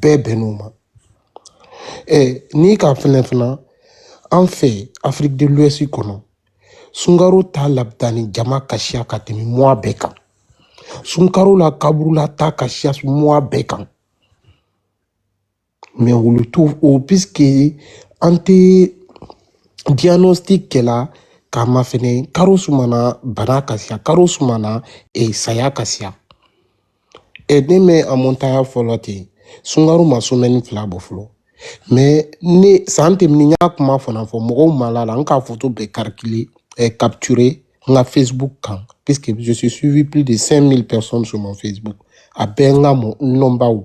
bɛɛ bɛnn'o ma ɛ n'i k'a fɛnɛ fana an fɛ afrique de l'ouest kɔnɔ sunkaro taa labitani jama ka siya ka tɛmɛ mois bɛɛ kan sunkaro la kaburula taa ka siya mois bɛɛ kan mais olu t'o o puisque an tɛ diagnostic kɛla k'a mafɛnɛ karo juman na bana ka siya karo juman na eh, saya ka siya ɛ ne mɛ a mɔntaya fɔlɔ ten sunkaro ma semaine fila bɔ fɔlɔ mais ne san tɛmɛni n y'a kuma fana fɔ mɔgɔw ma la a la n k'a foto bɛɛ karikile eh, capturer n ka facebook kan puisque je suis suivi plus de 5000 personnes sur mon facebook a bɛɛ n ka mɔ nɔnbaw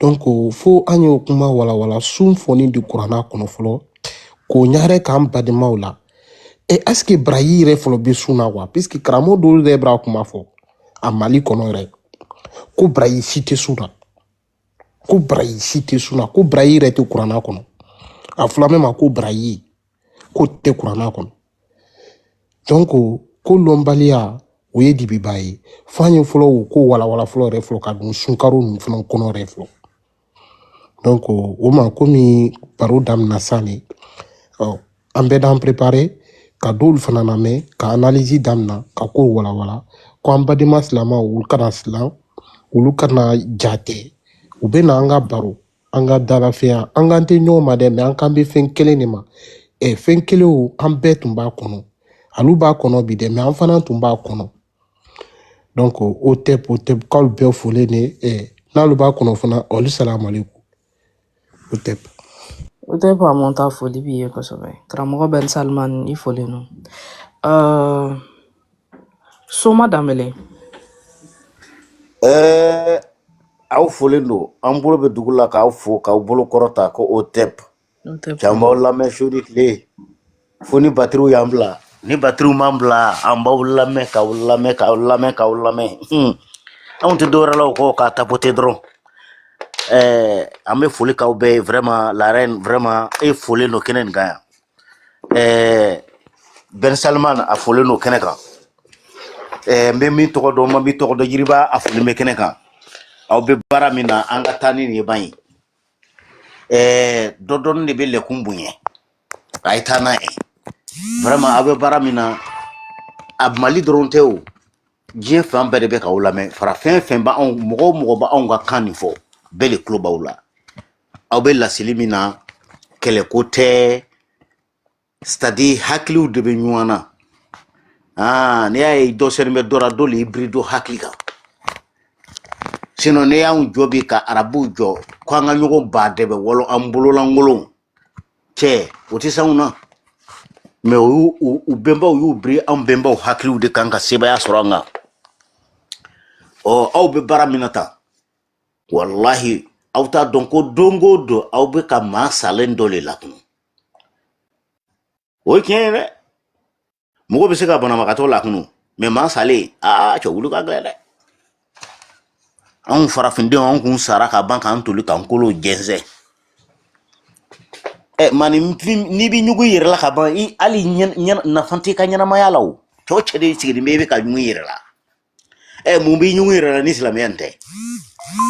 donc fo an y'o kuma walawala sun fɔni di kuranna kɔnɔ fɔlɔ k'o ɲagare k'an badenmaw la e est-ce que baraji yɛrɛ fɔlɔ bɛ sun na wa puisque karamɔgɔ dɔw yɛrɛ b'a kuma fɔ a mali kɔnɔ yɛrɛ ko baraji si tɛ sun na ko baraji si tɛ sun na ko baraji yɛrɛ tɛ kuranna kɔnɔ a fɔla mɛn ma ko baraji ko tɛ kuranna kɔnɔ donc kolɔnbaliya o ye dibiba ye fo an ye fɔlɔ o ko walawala fɔlɔ yɛrɛ fɔlɔ ka don sunkaro ninnu fana kɔnɔ yɛrɛ fɔlɔ donc o ma komi baro daminɛ san de an bɛɛ d'an préparer ka dɔw fana lamɛn ka analyse daminɛ ka kow walawala ko an badenma silamaw olu kana silan olu kana jate u bɛ na an ka baro an ka dalafɛya an k'an tɛ ɲɔgɔn ma dɛ mais an k'an bɛ fɛn kelen de ma ɛ fɛn kelenw an bɛɛ tun b'a kɔnɔ alu b'a kɔnɔ bi dɛ mais an fana tun b'a kɔnɔ donc hotep hotep k'alu bɛɛ folen de ɛ n'alu b'a kɔnɔ fana olu salamaleku hotep hotep faamu ta foli b'i ye kosɛbɛ karamɔgɔ ben salman i folen don soma danbɛlɛ ɛɛ aw folen don an bolo bɛ dugu la k'aw fo k'aw bolo kɔrɔta ko hotep n'o tɛ k'an b'aw lamɛn su ni tile fo ni batiriw y'an bila ni batiriw m'an bila an b'aw lamɛn k'aw lamɛn k'aw lamɛn k'aw lamɛn Hmm. anw tɛ dɔwɛrɛ la o kɔ k'a tapoter dɔrɔn ɛɛ an bɛ foli k'aw bɛɛ ye vraiment la reine vraiment e folen don kɛnɛ nin kan yan ɛɛ ben salman a folen don kɛnɛ kan ɛɛ n bɛ min tɔgɔ dɔn n ma min tɔgɔ dɔn yiriba a folen bɛ kɛnɛ kan aw bɛ baara min na an ka taa ni nin ye ban ye ɛɛ dɔ dɔɔni de bɛ lɛ kun bonya a ye taa n'a ye vraiment aw bɛ baara min na a mali dɔrɔn tɛ o diɲɛ fan bɛɛ de bɛ k'aw lamɛn farafin fɛn b'anw mɔgɔ o mɔgɔ b'anw ka kan nin fɔ bɛɛ de tulo b'aw la aw bɛ laseli min na kɛlɛko tɛ c'est-à-dire hakiliw de bɛ ɲɔgɔn na aa n'i y'a ye dɔ senin bɛ dɔ la dɔ le y'i biri dɔ hakili kan sinon n'i y'anw jɔ bi ka arabuw jɔ ko an ka ɲɔgɔn ba dɛbɛ wɔlɔ an bololankolon cɛ u tɛ s'anw na mais o y'u u- u bɛnbaw y'u biri anw bɛnbaw hakiliw de kan ka sebaaya sɔrɔ an kan ɔ aw bɛ baara min na tan walahi aw t'a dɔn ko don o don aw bɛ ka maa salen dɔ le lakunu o ye tiɲɛ ye dɛ mɔgɔ bɛ se ka banabagatɔ lakunu mais maa salen aa cɛ wuli ka gɛlɛn dɛ anw farafindenw anw kun sara ka ban k'an toli k'an kolo jɛnsɛn ɛ maa n'i bɛ ɲugun i yɛrɛ la ka ban hali nafa t'i ka ɲɛnamaya la o cɛ o cɛ de sigilen bɛ i bɛ ka ɲugun i yɛrɛ la ɛ eh, mun b'i ɲugun i yɛrɛ la ni silamɛya nin tɛ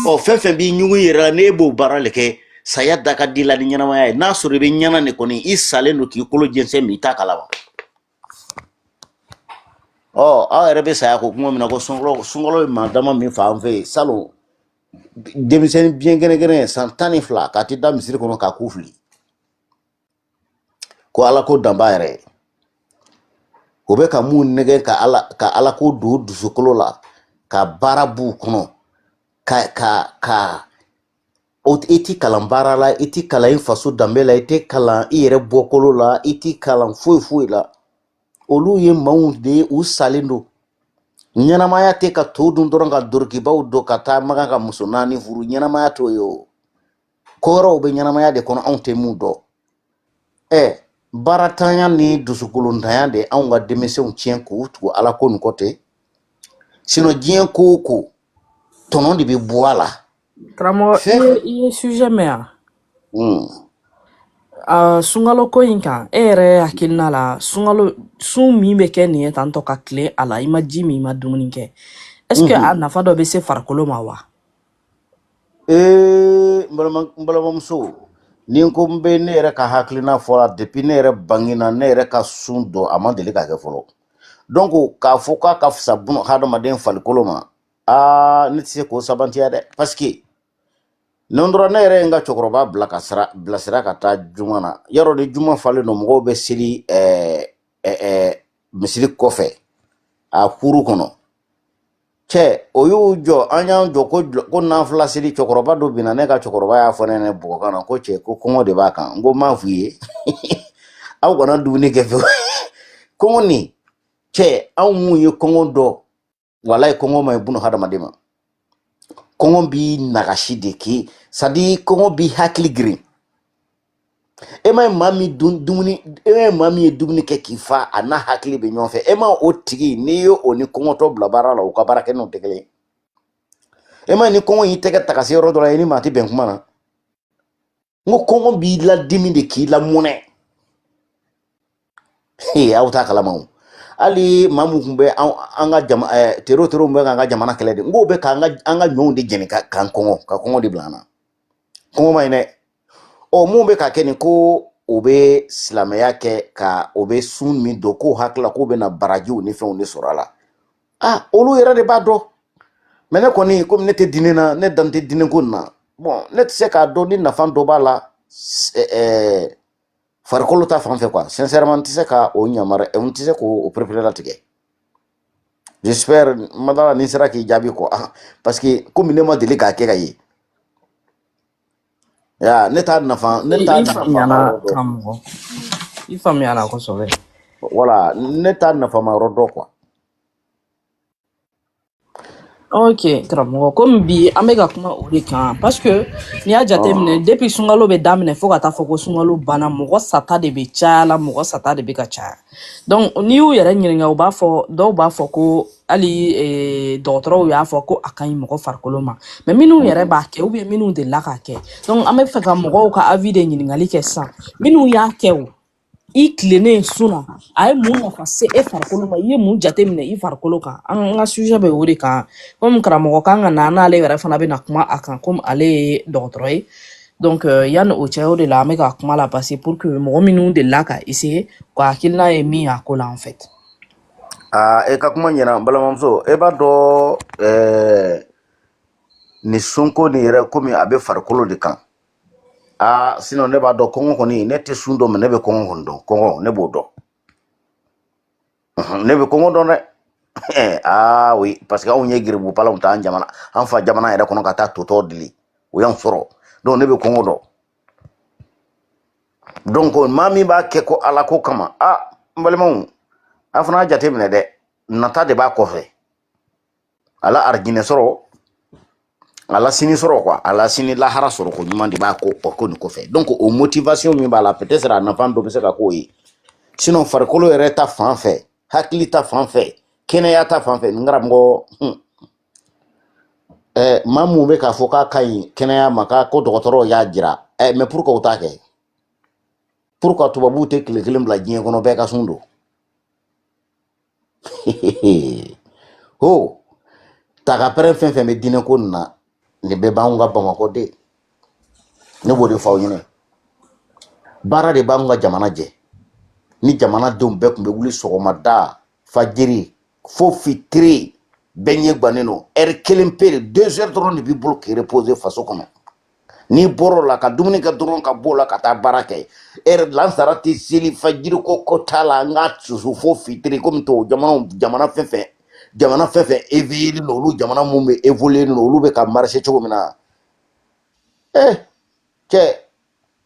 ɔ oh, fɛn fɛn b'i ɲugun i yɛrɛ la n'e b'o baara le kɛ saya da ka di i la ni ɲɛnamaya ye n'a sɔrɔ i bɛ ɲɛ na de kɔni i salen don k'i kolo jɛnsɛn mais i t'a kalama ɔ oh, aw yɛrɛ bɛ saya ko kuma min na ko sunkalo sunkalo ye maa dama min faga an fɛ yen salon denmisɛnnin biɲɛ kɛnɛ kɛnɛ san tan ni fila ka t'i da misiri kɔnɔ k'a ku fili ko ala ko danba yɛrɛ o bɛ ka mun nɛgɛn ka ala ka ala ko don dusukolo la ka baara b'u kɔnɔ ka ka ka i ti kalan baara la i ti kalan i faso danbe la i tɛ kalan i yɛrɛ bɔkolo la i ti kalan foyi foyi la olu ye maaw de ye u salen don ɲɛnamaya tɛ ka to dun dɔrɔn ka dorokibaw don ka taa makan ka muso naani furu ɲɛnamaya t'o ye o ko wɛrɛw bɛ ɲɛnamaya de kɔnɔ anw tɛ mun dɔn ɛ baaratanya ni dusukolontanya de anw ka denmisɛnw tiɲɛ k'u tugu ala ko nin kɔ ten sinon diɲɛ ko o ko tɔnɔ de bɛ bɔ a la karamɔgɔ i fɛn ye i ye sujet mɛn yan Hmm. Ah, sunkalo ko in kan e yɛrɛ hakilina la sunkalo sun min bɛ kɛ nin ye tantɔ ka tilen a la i ma ji min i ma dumuni kɛ est ce que Mhm. a nafa dɔ bɛ se farikolo ma wa Ee n balima n balimamuso ni n ko n bɛ ne yɛrɛ ka hakilina fɔ a la depuis ne yɛrɛ bangena ne yɛrɛ ka sun don a ma deli ka kɛ fɔlɔ donc k'a fɔ k'a ka fisa bun hadamaden farikolo ma aa ne tɛ se k'o sabantiya dɛ parce que don dɔ la ne yɛrɛ ye n ka cɛkɔrɔba bila ka sira bilasira ka taa juma na yarɔ ni juma falen don mɔgɔw bɛ seli ɛɛ ɛɛ misiri kɔfɛ a kuru kɔnɔ cɛ o y'u jɔ an y'an jɔ ko jɔ- ko nafila seli cɛkɔrɔba dɔ binna ne ka cɛkɔrɔba y'a fɔ ne ɲɛna bɔgɔkan na ko cɛ ko kɔngɔ de b'a kan n ko n m'a f'u ye aw kana dumuni kɛ fiyewu kɔngɔ nin cɛ anw mun ye kɔngɔ dɔn walayi kɔngɔ man ɲi buna hadamaden ma kɔngɔ b'i nagasi de k'i sadi kɔngɔ b'i hakili girin e ma ye maa min dun dumuni e ma ye maa min ye dumuni kɛ k'i fa a n'a hakili bɛ ɲɔgɔn fɛ e ma o tigi n'i ye o ni kɔngɔtɔ bila baara la u ka baara kɛ nɔ tɛ kelen ye e ma ye ni kɔngɔ y'i tɛgɛ taga se yɔrɔ dɔ la i ni maa tɛ bɛn kuma na n ko kɔngɔ b'i ladimi de k'i lamɔnɛ aw t'a kalama o hali maa mun tun bɛ an ka jama tero tero mun bɛ k'an ka jamana kɛlɛ de n k'o bɛ k'an ka an ka ɲɔw de jeni ka k'an kɔngɔ ka kɔngɔ de bila an na kɔngɔ man ɲi dɛ ɔ mun bɛ ka kɛ nin ko o bɛ silamɛya kɛ ko o bɛ sun min don k'o hakilila k'o bɛna barajiw ni fɛnw de sɔrɔ a la a olu yɛrɛ de b'a dɔn mais ne kɔni komi ne tɛ diinɛ na ne da tɛ diinɛ ko nin na bon ne tɛ se k'a dɔn ni nafa dɔ b'a la farikolo ta fan fɛ quoi sincèrement n tɛ se ka o yamaruya n tɛ se k'o pereperelatigɛ j'espère madala ni n sera k'i jaabi quoi ah, parce que komi ne ma deli k'a kɛ k'a ye ya ne t'a nafa ne t'a nafa i faamuyana kosɛbɛ voilà ne t'a nafama yɔrɔ dɔn quoi ok karamɔgɔ komi bi an bɛ ka kuma o de kan parce que n'i y'a jateminɛ ah. depuis sunkalo bɛ daminɛ fo ka taa fɔ ko sunkalo banna mɔgɔ sata de bɛ caya la mɔgɔ sata de bɛ ka caya donc n'i y'u yɛrɛ ɲininka u b'a fɔ dɔw b'a fɔ ko hali eh, dɔgɔtɔrɔw y'a fɔ ko a ka ɲi mɔgɔ farikolo ma mais minnu yɛrɛ b'a kɛ ou bien minnu delila k'a kɛ donc an b'a fɛ ka mɔgɔw ka avis de ɲininkali kɛ sisan minnu y'a kɛ o i tilennen sun na a ye mun nafa se e farikolo ma i ye mun jateminɛ i farikolo kan an ka sujet bɛ o de kan komi karamɔgɔ kan ka na n'ale yɛrɛ fana bɛna kuma a kan komi ale ye dɔgɔtɔrɔ ye donc euh, yanni o cɛ o de la an bɛ ka kuma la parce pour que mɔgɔ minnu delila ka essayer ka hakilina ye min y'a ko la en fait aa e ka kuma ɲɛna balimamuso e b'a dɔn ɛɛ ni sunko nin yɛrɛ komi a bɛ farikolo de kan aa sinon ne b'a dɔn kɔngɔ kɔni ne tɛ sun dɔn mais ne bɛ kɔngɔ kɔni dɔn kɔngɔ ne b'o dɔn ne bɛ kɔngɔ dɔn dɛ aa oui parce que anw ye garibu palanw ta an jamana an fa jamana yɛrɛ kɔnɔ ka taa to tɔ deli o y'an sɔrɔ donc ne bɛ kɔngɔ dɔn donc maa min b'a kɛ ko ala ko kama a n balimaw a fana y'a jate minɛ dɛ nata de b'a kɔfɛ ala arjinɛ sɔrɔ ala sini sɔrɔ quoi ala sini lahara sɔrɔ ko ɲuman de b'a ko o ko nin kɔfɛ donc o motivation min b'a la peut être a nafa dɔ bɛ se ka k'o ye sinon farikolo yɛrɛ ta fan fɛ hakili ta fan fɛ kɛnɛya ta fan fɛ n karamɔgɔ hmm. eh, maa mun bɛ k'a fɔ k'a ka ɲi kɛnɛya ma k'a ko dɔgɔtɔrɔw y'a jira eh, mais pourquoi u t'a kɛ pourquoi tubabuw tɛ tile kelen bila diɲɛ kɔnɔ bɛɛ ka sun don o tagapɛrɛn fɛn fɛn bɛ diinɛ ko nin na nin bɛɛ b'anw ka bamakɔ de ne b'o de fɔ aw ɲɛna baara de b'anw ka jamana jɔ ni jamanadenw bɛɛ tun bɛ wuli sɔgɔmada fajiri fo fitiri bɛɛ ɲɛ gannen don heure kelen pe de deux heures dɔrɔn de b'i bolo k'i reposer faso kɔnɔ n'i bɔr'o la ka dumuni kɛ dɔrɔn ka b'o la ka taa baara kɛ heure lansara tɛ seli fajiri ko ko t'a la an ka susu fo fitiri komi tɔ jamana jamana fɛn fɛn jamana fɛn fɛn éveillélen don olu jamana minnu bɛ évoluélen don olu bɛ ka marcher cogo min na ee cɛ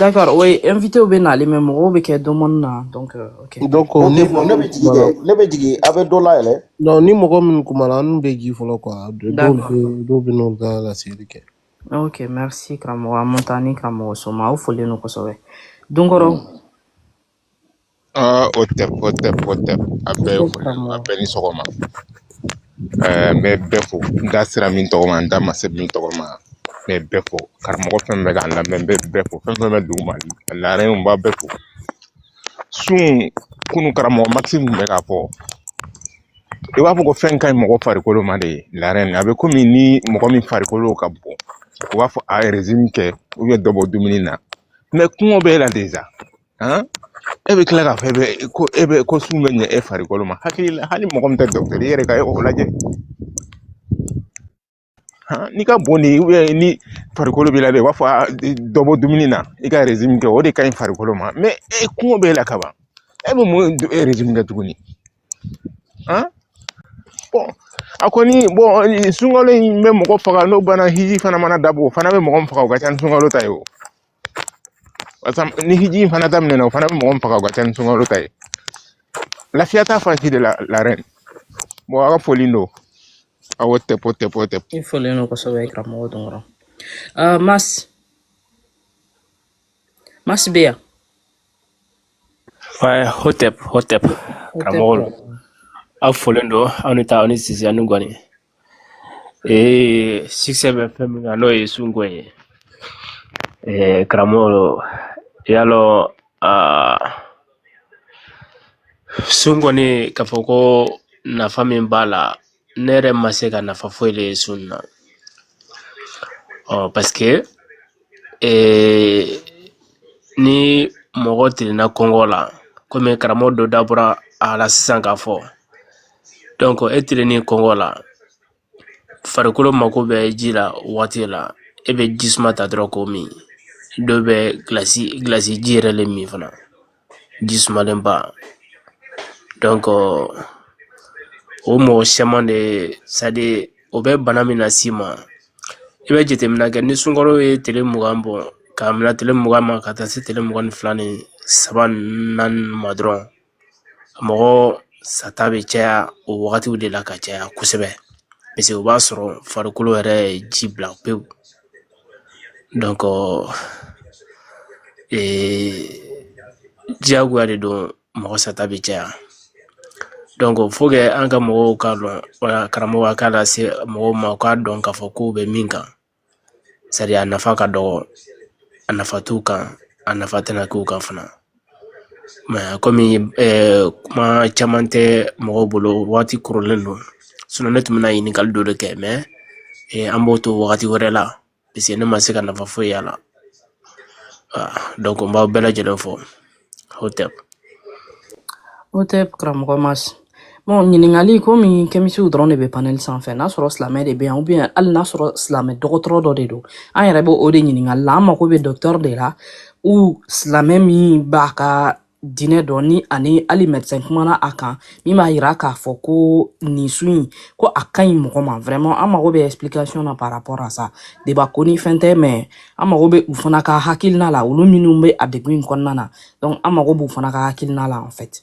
D'accord, oui, invitéw bɛɛ nalen, mais mɔgɔ bɛ kɛ demande na, donc euh, OK. donc o ni ne mɔgɔ ne bɛ min jigin kumana dɛ ne bɛ jigin a bɛ dɔ layɛlɛ non ni mɔgɔ minnu kumana n'u bɛ jigin fɔlɔ quoi dɔw D'accord. bɛ dɔw bɛ n'olu ka laseli kɛ OK, merci karamɔgɔ Amontani karamɔgɔ Soma. Aw folen don kosɛbɛ. Donkɔrɔ Aa hotep hotep hotep a I bɛɛ ye ko foli a karamɔgɔ. bɛɛ ni sɔgɔma ɛɛ n bɛ bɛɛ fo n da sera min tɔgɔ ma n da ma se min tɔgɔ ma n bɛ bɛɛ fo karamɔgɔ fɛn fɛn bɛ k'an lamɛn n bɛ bɛɛ fo fɛn fɛn bɛ dugu ma la reine n b'a bɛɛ fo sun kunun karamɔgɔ Mas tun bɛ k'a fɔ i b'a fɔ ko fɛn ka ɲi mɔgɔ farikolo ma de la reine a bɛ komi ni mɔgɔ min farikolo ka bon u b'a fɔ a ye régime kɛ u bɛ dɔ bɔ dumuni na mais kɔngɔ b'e la déjà han e bɛ tila k'a fɔ e bɛ ko e bɛ ko sun bɛ ɲɛ e farikolo ma hakili la hali mɔgɔ min tɛ docteur i yɛrɛ ka e o lajɛ han n'i ka bon de ye ni farikolo b'i la dɛ u b'a fɔ a dɔ bɔ dumuni na i ka régime kɛ o de ka ɲi farikolo ma mais e kɔngɔ b'e la kaban e bɛ mun régime kɛ tuguni A bon a kɔni bon sunkalo in bɛ mɔgɔ faga n'o banna hiji fana mana dabɔ o fana bɛ mɔgɔ min faga o ka ca ni sunkalo ta ye o barisa ni hiji in fana daminɛna o fana bɛ mɔgɔ min faga o ka ca ni sunkalo ta ye lafiya t'a fan si de la la reine bon a ka foli don hotep hotep hotep I folen don kosɛbɛ karamɔgɔ Donkɔrɔ. Ah, Mas, Mas bɛ yan. hotep hotep karamɔgɔlu aw folen don aw ni ta aw ni sisi ani gɔni ee sujet bɛ fɛn min kan n'o ye sunko ye ee karamɔgɔlu y'a lɔn aa sun kɔni k'a fɔ ko nafa min b'a la ne yɛrɛ ma se ka nafa foyi de ye sun na parce que ee, ni mɔgɔ tilenna kɔngɔ la komi karamɔgɔ dɔ dabɔra a la sisan k'a fɔ donc e tilennen kɔngɔ la farikolo mako bɛ ji la waati la e bɛ ji suma ta dɔrɔn k'o min dɔw bɛ gilasi ji yɛrɛ le min fana ji sumalenba donc o mɔgɔ caman de c'est à dire o bɛ bana min las'i ma i bɛ jateminɛ kɛ ni sunkalo ye tile mugan bɔ k'a minɛ tile mugan ma ka taa se tile mugan ni fila ni saba ni naani ma dɔrɔn mɔgɔ sata bɛ caya o wagatiw de la ka caya kosɛbɛ parce que o b'a sɔrɔ farikolo yɛrɛ ye ji bila pewu donc diyagoya de don mɔgɔ sata bɛ caya donc faut que an ka mɔgɔw k'a dɔn wala karamɔgɔ k'a lase mɔgɔw ma u k'a dɔn k'a fɔ k'u bɛ min kan c'est à dire a nafa ka dɔgɔ a nafa t'u kan a nafa tɛna k'u kan fana Mais komi kuma caman tɛ mɔgɔw bolo waati kɔrɔlen don sinon ne tun bɛna ɲininkali dɔ de kɛ mais an b'o to wagati wɛrɛ la parce que ne ma se ka nafa foyi y'a la donc n b'aw bɛɛ lajɛlen fo Hotep Hotep karamɔgɔ ma Bon ɲininkali komi kɛmitiw dɔrɔn de bɛ panel sanfɛ n'a sɔrɔ silamɛ de bɛ yan ou bien hali n'a sɔrɔ silamɛ dɔgɔtɔrɔ dɔ de don an yɛrɛ bɛ o de ɲininkali la an mago bɛ docteur de la ou silamɛ min b'a ka diinɛ dɔn ni ani hali médecin kumana a kan min b'a yira k'a fɔ ko nin sun in ko a ka ɲi mɔgɔ ma vraiment an mago bɛ explication na par rapport à ça débat ko ni fɛn tɛ mais an mago bɛ u fana ka hakilina la olu minnu bɛ a degun in kɔnɔna na donc an mago b'u fana ka hakilina la en fait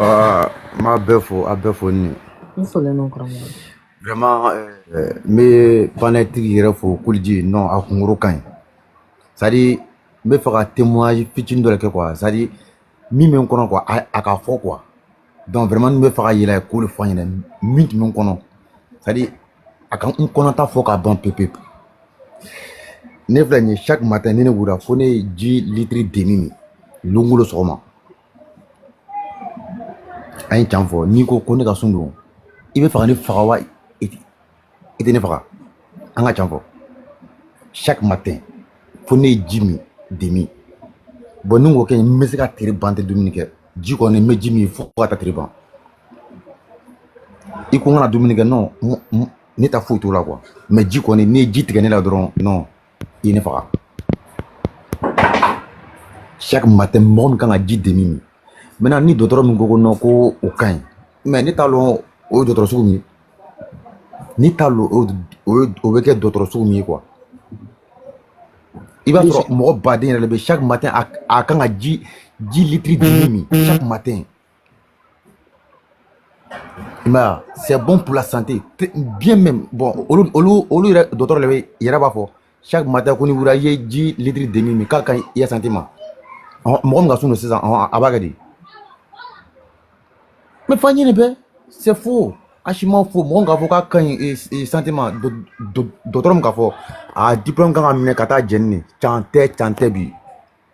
Aa n b'a bɛɛ fo a bɛɛ fo ni i folen don karamɔgɔ. vraiment euh, n bɛ panel tigi yɛrɛ fo Kuliji non a kunkoro ka ɲi c'est à dire n bɛ fɛ ka témoignage fitini dɔ de kɛ quoi c'est à dire min bɛ n kɔnɔ quoi a k'a fɔ quoi donc vraiment n bɛ fɛ ka yɛlɛ k'o de fɔ aw ɲɛna min tun bɛ n kɔnɔ c'est à dire a ka n kɔnɔta fɔ ka ban pewu pewu ne filɛ nin ye chaque matin ni ne wulila fo ne ye ji litiri demi min lon o lon sɔgɔma an ye can fɔ n'i ko ne ka sun don i bɛ fɛ ka ne faga wa i tɛ ne faga an ka can fɔ chaque matin fo ne ye ji min demi bon ni n k'o kɛ n bɛ se ka tile ban n tɛ dumuni kɛ ji kɔni n bɛ ji min fo ka taa tile ban i ko n kana dumuni kɛ non ne ta foyi t'o la quoi mais ji kɔni n'i ye ji tigɛ ne la dɔrɔn non i ye ne faga chaque matin mɔgɔ min kan ka ji demi min maintenant ni dɔgɔtɔrɔ min ko ko non ko o ka ɲi mais ne t'a lɔn o ye dɔgɔtɔrɔ sugu min ye ne t'a lɔn o bɛ kɛ dɔgɔtɔrɔ sugu min ye quoi i b'a sɔrɔ mɔgɔ baden yɛrɛ de bɛ chaque matin a kan ka ji ji litiri demi min chaque matin i m'a ye a c'est bon pour la santé bien même bon olu olu olu yɛrɛ dɔgɔtɔrɔ de bɛ yɛrɛ b'a fɔ chaque matin ko n'i wulila i ye ji litiri demi min k'a ka ɲi i ya santé ma ɔhɔn mɔgɔ min ka sun don sisan ɔhɔn a b'a kɛ di mais faninya bɛɛ c'est faux archiment faux mɔgɔ min k'a fɔ k'a ka ɲi santé ma dɔgɔtɔrɔ min k'a fɔ a diplôme kan ka minɛ ka taa jɛni de can tɛ can tɛ bi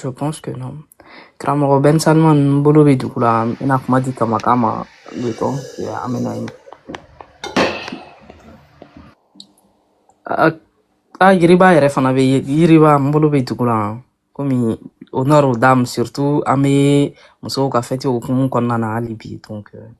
Je pense que non. Karamɔgɔ Ben Salman n bolo bɛ dugu la n bɛna kuma di Kamaka ma le temps que an bɛ na yen. A a Yiriba yɛrɛ fana bɛ yen Yiriba n bolo bɛ dugu la komi honneur aux dames surtout an bɛ musow ka fɛti hukumu kɔnɔna na hali bi donc euh,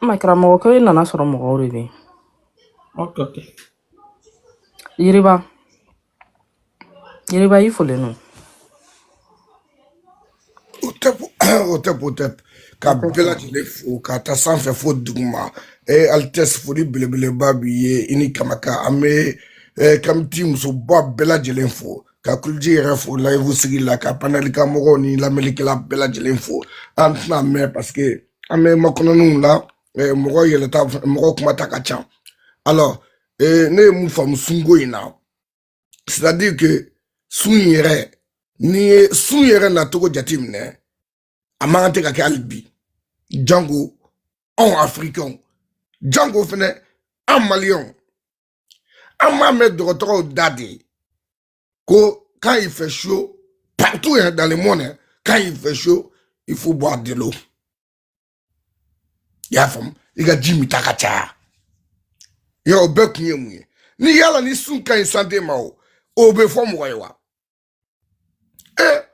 N ma karamɔgɔ ko e nana sɔrɔ mɔgɔw de bɛ yen. Ok, ok. Yiriba, Yiriba i folen don. Hotep, hotep, hotep ka bɛɛ lajɛlen fo k'a ta sanfɛ fo duguma e Altesse foli belebeleba b'i ye i ni Kamaka an bɛ eh, kamiti musoba bɛɛ lajɛlen fo ka Kuliji yɛrɛ fo layifu sigila ka panɛli kan mɔgɔw ni lamɛnnikɛla bɛɛ lajɛlen fo an tɛna mɛn parce que an bɛ makɔnɔniw la eh, mɔgɔ yɛlɛta mɔgɔ kumata ka ca alors eh, ne ye mun faamu sunko in na c'est à dire que sun yɛrɛ n'i ye sun yɛrɛ nacogo jate minɛ a man kan ten ka kɛ hali bi jango anw afirikɛnw jango fɛnɛ an maliyɛnw an b'a mɛn dɔgɔtɔrɔw da de ko quand il fait chaud partout hein, dans le monde hein, quand il fait chaud il faut boire de l'eau i y'a faamu i ka ji minta ka caya yɔrɔ o bɛɛ kun ye mun ye ni yala ni sun ka ɲi santé ma o o bɛ fɔ mɔgɔ ye wa et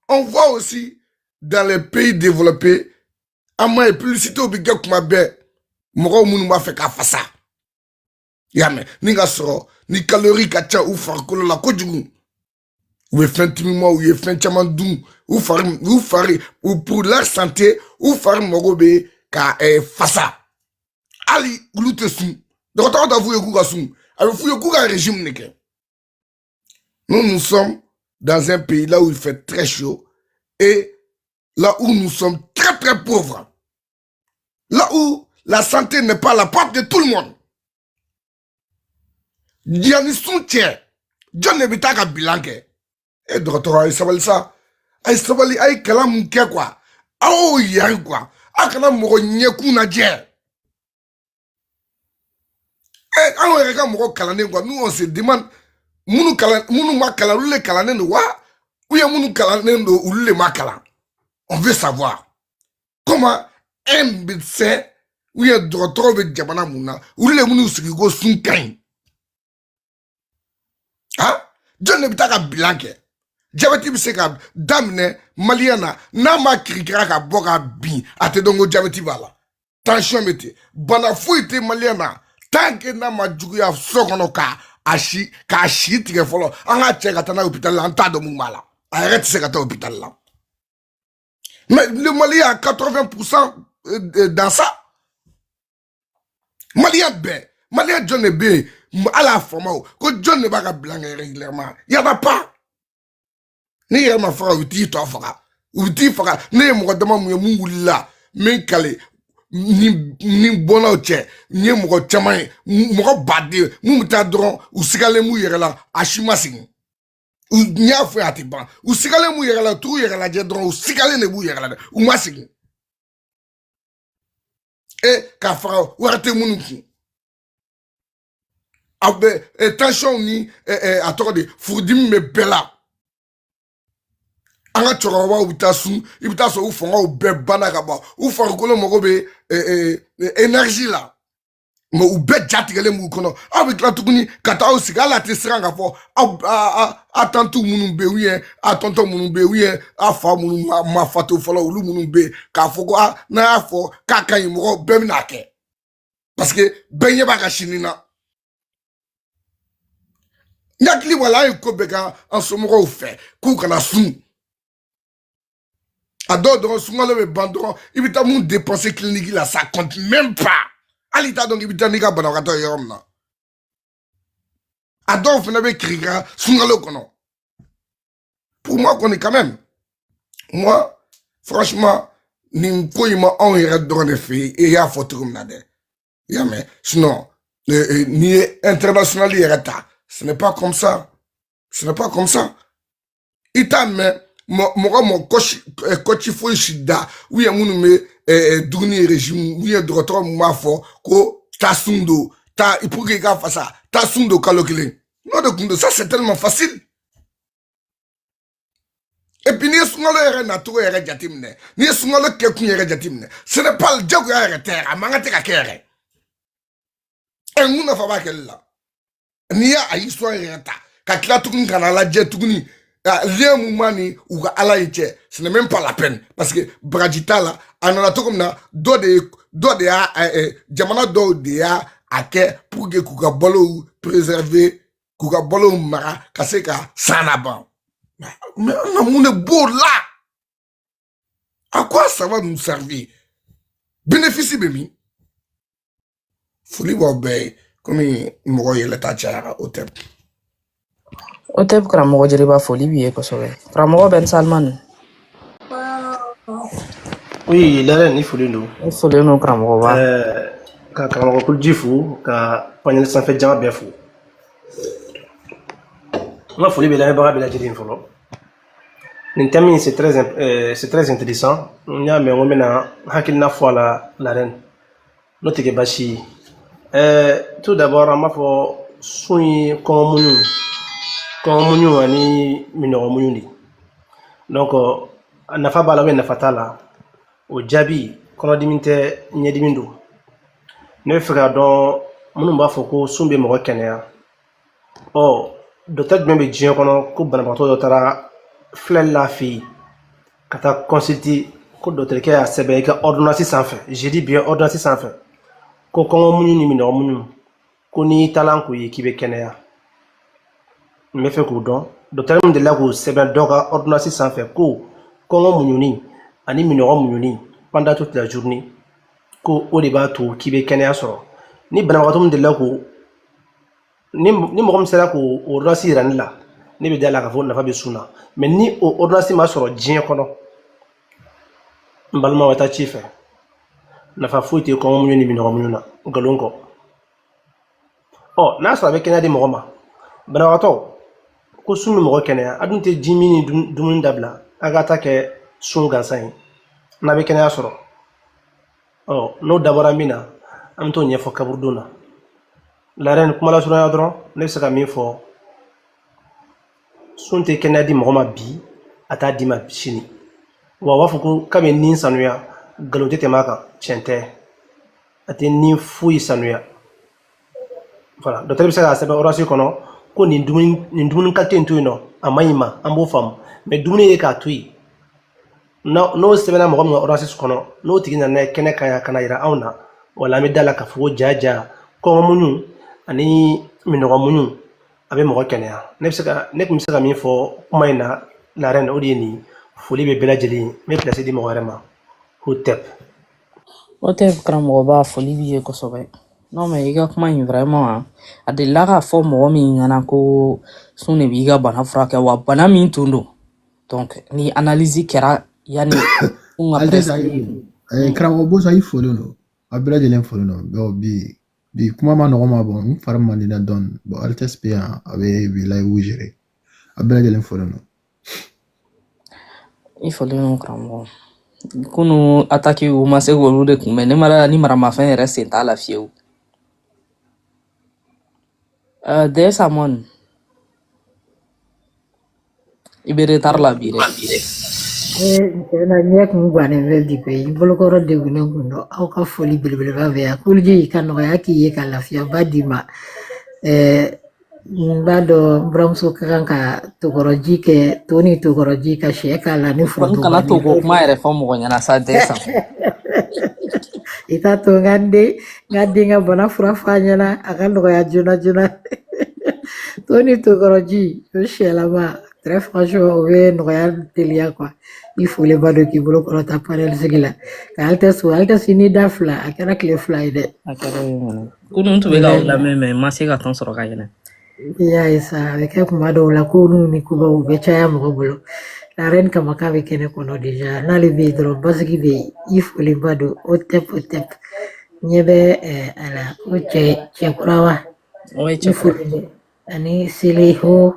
on voit aussi dans les pays développés an m'a ye publicité bɛ kɛ kuma bɛɛ mɔgɔw minnu b'a fɛ ka fasa y'a mɛn ni ka sɔrɔ ni kalori ka ca u farikolo la kojugu u bɛ fɛn timimaw ou bien fɛn caman dun u fari u fari u pour leur santé u fari mago bɛ ka eh, fasa hali olu tɛ sun dɔgɔtɔrɔ t'a f'u ye k'u ka sun a bɛ f'u ye k'u ka régime de kɛ nous nous sommes dans un pays là où il fait très chaud et là où nous sommes très très pauvres Là où la santé n'est pas à la portée de tout le monde. Yanni sun cɛ, jɔn de bɛ taa ka bilan kɛ. E dɔgɔtɔrɔ a ye sabali sa. A ye sabali a ye kalan mun kɛ quoi. Aw yan quoi. A kana mɔgɔ ɲɛkun lajɛ. Eh, an yɛrɛ ka mɔgɔ kalannen quoi nous on se demande minnu kalan minnu ma kalan olu le kalannen don wa ou bien minnu kalannen don olu le ma kalan on veut savoir comment un médecin ou bien dɔgɔtɔrɔ bɛ jamana mun na olu le bɛn'u sigi ko sun ka ɲi ha jɔn de bɛ taa ka bilan kɛ jabɛti bɛ se ka daminɛ maliyɛn na n'a ma kirikira ka bɔ ka bin a tɛ dɔn ko jabɛti b'a la tansiyɔn bɛ ten bana foyi tɛ maliyɛn na tant que n'a ma juguya so kɔnɔ ka a si k'a si tigɛ fɔlɔ an k'a cɛ ka taa n'a ye hopitali la an t'a dɔn mun b'a la a yɛrɛ tɛ se ka taa hopitali la mais le Mali y a 80 pourcent euh, dans ça maliyɛn bɛɛ maliyɛn jɔn de bɛ yen ala faamaw kɔ jɔn de b'a ka bilan kɛ régulièrement y en a pas n'i yɛrɛ ma faga u t'i tɔ faga u t'i faga ne ye mɔgɔ dama mun ye mun wulila min kale ni ni bɔnnaw cɛ n ye mɔgɔ caman ye mɔgɔ baden mun bɛ taa dɔrɔn u sigalen b'u yɛrɛ la a si ma segin n y'a fɔ a tɛ ban u sigalen b'u yɛrɛ la t'u yɛrɛ lajɛ dɔrɔn u sigalen de b'u yɛrɛ la dɛ u ma segin e k'a faga wari tɛ minnu kun a bɛ tansiyɔnw ni a tɔgɔ de furudimi bɛ bɛɛ la an ka cɛkɔrɔbaw bɛ taa sun i bɛ taa sɔrɔ u fangaw bɛɛ banna ka ban u farikolo mago bɛ énergie la mais u bɛɛ jatigɛlen b'u kɔnɔ aw bɛ tila tuguni ka taa aw sigi hali a tɛ siran ka fɔ aw a tanti minnu bɛ yen ou bien a tɔntɔn minnu bɛ yen ou bien a fa minnu ma fatu fɔlɔ olu minnu bɛ yen k'a fɔ ko a n'a y'a fɔ k'a ka ɲi mɔgɔw bɛɛ bɛna kɛ parce que bɛɛ ɲɛ b'a ka sini na n hakili wala an ye ko bɛɛ kɛ an somɔgɔw fɛ k'u kana sun a dɔw dɔrɔn sunkalo bɛ ban dɔrɔn i bɛ taa mun dépenser clinique la ça compte même pas hali i t'a dɔn k'i bɛ taa n'i ka banabagatɔ ye yɔrɔ min na a dɔw fana bɛ kirikira sunkalo kɔnɔ pour moi kɔni quand même moi franchement nin ko in ma anw yɛrɛ dɔrɔn de fɛ yen e y'a fɔ cogo min na dɛ i y'a mɛn sinon n'i ye international yɛrɛ ta ce n'est pas comme ça ce n'est pas comme ça i t'a mɛn mɔgɔ mɔ coach eh, coach foyi si da u ye minnu bɛ eh, eh, dumuni régime u ye dɔgɔtɔrɔ m'a fɔ ko taa sun don ta pour que i ka fasa taa sun don kalo kelen n'o de tun don ça c'est tellement facile et puis n'i ye sunkalo yɛrɛ nacogo yɛrɛ jateminɛ n'i ye sunkalo kɛkun yɛrɛ jateminɛ ce n'est pas jagoya yɛrɛ tɛ a man kan tɛ ka kɛ yɛrɛ mun nafa b'a kɛli la n'i y'a a histoire yɛrɛ ta ka tila tuguni ka na lajɛ tuguni lien mun b'a ni u ka ala in cɛ ce n'est même pas la peine parce que baraji t'a la a nana cogo min na dɔ de ye dɔ de y'a jamana dɔw de y'a a kɛ pour que k'u ka balow préserver k'u ka balow mara ka se ka san laban mun de b'o la À quoi ça va nous servir Bénéfice bɛ min. Foli b'aw bɛɛ ye komi mɔgɔ yɛlɛta cayara o tɛ o tɛ karamɔgɔ jeliba foli b'i ye kosɛbɛ karamɔgɔ Ben Salman Oui, la reine i folen don. i folen don karamɔgɔba Ɛɛ ka karamɔgɔ kuluji fo ka panɛli sanfɛ jama bɛɛ fo. N ka foli bɛ lamɛnbaga bɛɛ lajɛlen fɔlɔ. nin thème in c'est très euh, c'est très intéressant n y'a mɛn ko n bɛna hakilina fɔ a la la reine n'o tɛ kɛ baasi ye euh, tout d'abord an b'a fɔ sun ye kɔngɔmuɲu kɔngɔmuɲu ani minɔgɔmuɲu de donc a nafa b'a la ou bien nafa t'a la o jaabi kɔnɔdimi tɛ ɲɛdimi don ne bɛ fɛ k'a dɔn minnu b'a fɔ ko sun bɛ mɔgɔ kɛnɛya ɔ docteur jumɛn bɛ diɲɛ kɔnɔ ko banabagatɔ dɔ taara filɛlila fɛ yen ka taa consulter ko docteur kɛ y'a sɛbɛn i ka ordonnance sanfɛ je dis bien ordonnance sanfɛ ko kɔngɔ muɲu ni minɔgɔ muɲu ko n'i talan k'o ye k'i bɛ kɛnɛya n bɛ fɛ k'o dɔn docteur min delila k'o sɛbɛn dɔ ka ordonnance sanfɛ ko kɔngɔ muɲuni ani minɔgɔ muɲuni pendant toute la journée ko o de b'a to k'i bɛ kɛnɛya sɔrɔ ni banabagatɔ min delila k'o ni ni mɔgɔ min sera k'o ordonnance yira ne la ne bɛ da la k'a fɔ nafa bɛ sun na mais ni o ordonnance ma sɔrɔ diɲɛ kɔnɔ n balimaw ka taa ci fɛ nafa foyi tɛ kɔngɔmuɲu ni minɔgɔmuɲu na nkalon ko ɔ n'a sɔrɔ a bɛ kɛnɛya di mɔgɔ ma banabagatɔ ko sun bɛ mɔgɔ kɛnɛya a dun tɛ jimin ni dumuni dabila a ka ta kɛ sun gansan ye n'a bɛ kɛnɛya sɔrɔ ɔ n'o dabɔra min na an bɛ t'o ɲɛfɔ kaburudon na la reine kuma lasurunya dɔrɔn ne bɛ se ka min fɔ sun tɛ kɛnɛya di mɔgɔ ma bi a t'a d'i ma sini wa u b'a fɔ ko k'a bɛ ni sanuya nkalon tɛ tɛmɛ a kan tiɲɛ tɛ a tɛ ni foyi sanuya voilà docteur bɛ se k'a sɛbɛn ordonnance kɔnɔ ko nin dumuni kalite in to yen nɔ a man ɲi i ma an b'o faamu mais dumuni ye k'a to yen n'o sɛbɛnna mɔgɔ min ka ordonnance kɔnɔ n'o tigi nana n'a ye kɛnɛ kan yan ka n'a yira anw na wala an bɛ da la k'a fɔ ko ja ja kɔngɔmuɲu ani minɔgɔmuɲu a bɛ mɔgɔ kɛnɛya ne bɛ se ka ne tun bɛ se ka min fɔ kuma in na la reine o de ye nin foli bɛ bɛɛ lajɛlen ye n bɛ pilasi di mɔgɔ wɛrɛ ma Hotep Hotep karamɔgɔba foli b'i ye kosɛbɛ non mais i ka kuma in vraiment a delila k'a fɔ mɔgɔ min ɲɛna ko sun de b'i ka bana furakɛ wa bana min tun don donc ni analyse kɛra yanni sun ka prescrire eh, karamɔgɔ Bosa i folen don a bɛɛ lajɛlen folen don donc bi bi kuma man nɔgɔ n ma bon n fari man di n na dɔɔni bon altesse bɛ yan a bɛ bi live gérer a bɛɛ lajɛlen folen don i folen don karamɔgɔ kunu ataki u ma se k'olu de kunbɛn ne mara ni maramafɛn yɛrɛ sen t'a la fiyewu Des Amon i bɛ retard la bi dɛ. na ɲɛ kun gannen bɛ bi koyi i bolokɔrɔ degunnen kun don aw ka foli belebeleba bɛ yan kuluji ka nɔgɔya k'i ye ka lafiyaba d'i ma n b'a dɔn n buramuso ka kan ka tokɔrɔji kɛ to ni tokɔrɔji ka sɛ k'a la ni foronto kana to ko kuma yɛrɛ fɔ mɔgɔ ɲɛna sa Des Amon i t'a to n ka n den n ka den ka bana fura f'a ɲɛna a ka nɔgɔya joona joona to ni tokɔrɔji o sɛlama très franchement o bɛ nɔgɔya teliya quoi i folenba don k'i bolo kɔrɔta panel sigi la ka altesse altesse ni da fila a kɛra tile fila ye dɛ a kɛra yen kɔni kunun n tun bɛ k'aw lamɛn mais n ma se ka temps sɔrɔ ka yɛlɛ I y'a ye sa a bɛ kɛ kuma dɔw la koninw ni kubaw bɛ caya mɔgɔ bolo la reine kama k'a bɛ kɛnɛ kɔnɔ déjà n'ale bɛ yen dɔrɔn basigi bɛ yen i folenba don Hotep Hotep ɲɛ bɛ a la o cɛ cɛ kura wa o ye cɛ foli ani Seleho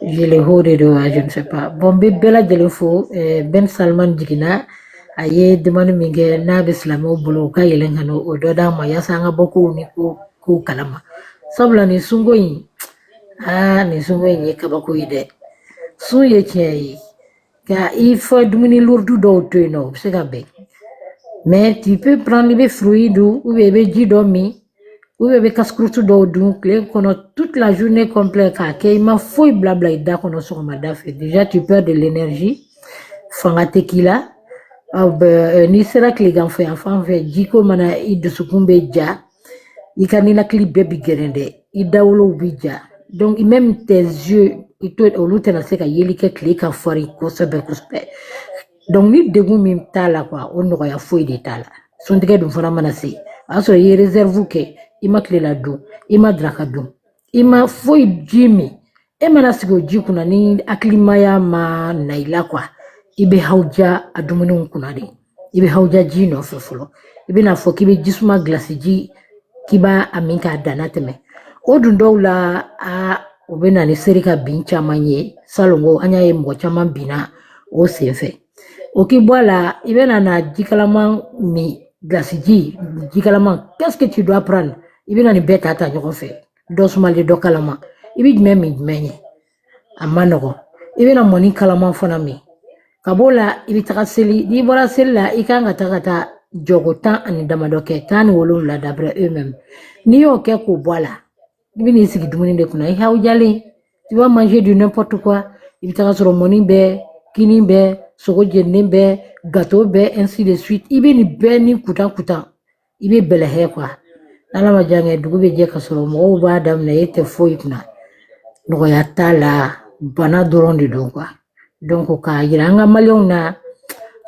Jeleho de don a je ne sais pas bon n bɛ bɛɛ lajɛlen fo Ben Salman jiginna a ye demande min kɛ n'a bɛ silamɛw bolo u ka yɛlɛn ka n'o dɔ d'an ma yaasa an ka bɔ kow ni ko k'o kalama sabula nin sunko in aa nin sunko in ye kabako ye dɛ sun ye tiɲɛ ye ka i fɔ dumuni lourd dɔw to yen nɔ o bɛ se ka bɛn mais tu peux prendre i bɛ fruit dun ou bien i bɛ ji dɔ min ou bien i bɛ casse-croûte dɔw dun tile kɔnɔ toute la journée complète k'a kɛ i ma foyi bila bila i da kɔnɔ sɔgɔmada fɛ déjà tu perds de l'énergie fanga tɛ k'i la aw bɛ n'i sera tileganfɛ yan fan fɛ jiko mana i dusukun bɛ ja i ka ninakili bɛɛ bi gɛrɛn dɛ i dawolow bi ja donc même tes yeux olu tɛna se ka yeli kɛ tile ka farin kosɛbɛ kosɛbɛ donc ni degun min t'a la quoi o nɔgɔya foyi de t'a la suntigɛ dun fana mana se o y'a sɔrɔ i ye réserve kɛ i ma tilela dun i ma daraka dun i ma foyi ji min e mana sigi o ji kunna ni hakilimaya ma na i la quoi i bɛ hawuja a dumuniw kunna de i bɛ hawuja ji nɔfɛ fɔlɔ i bɛna fɔ k'i bɛ jisuma gilasi ji k'i b'a min k'a danna tɛmɛ o dun dɔw la a o bɛ na ni seri ka bin caman ye salon ko an y'a ye mɔgɔ caman binna o senfɛ O k'i bɔ a la i bɛna na jikalaman min gilasiji jikalaman qu'est-ce que tu dois prendre i bɛna nin bɛɛ ta ta ɲɔgɔn fɛ dɔ sumalen dɔ kalama i bɛ jumɛn min jumɛn ye a ma nɔgɔn i bɛna mɔni kalaman fana min ka b'o la i bɛ taga seli n'i bɔra seli la i kan ka taa ka taa jɔko tan ani damadɔ kɛ tan ni wolonwula d'après eux-mêmes n'i y'o kɛ k'o bɔ a la I bi n'i sigi dumuni de kunna i hawujalen tu vas manger du n'importe quoi i bɛ taga sɔrɔ mɔni bɛ kini bɛ sogo jeninen bɛ gâteau bɛ ainsi de suite i bɛ nin bɛɛ ni kutan kutan i bɛ bɛlɛhɛ quoi n'ala ma jan kɛ dugu bɛ jɛ ka sɔrɔ mɔgɔw b'a daminɛ e tɛ foyi kunna nɔgɔya t'a la bana dɔrɔn de don quoi Donc k'a yira an ka maliyɛnw na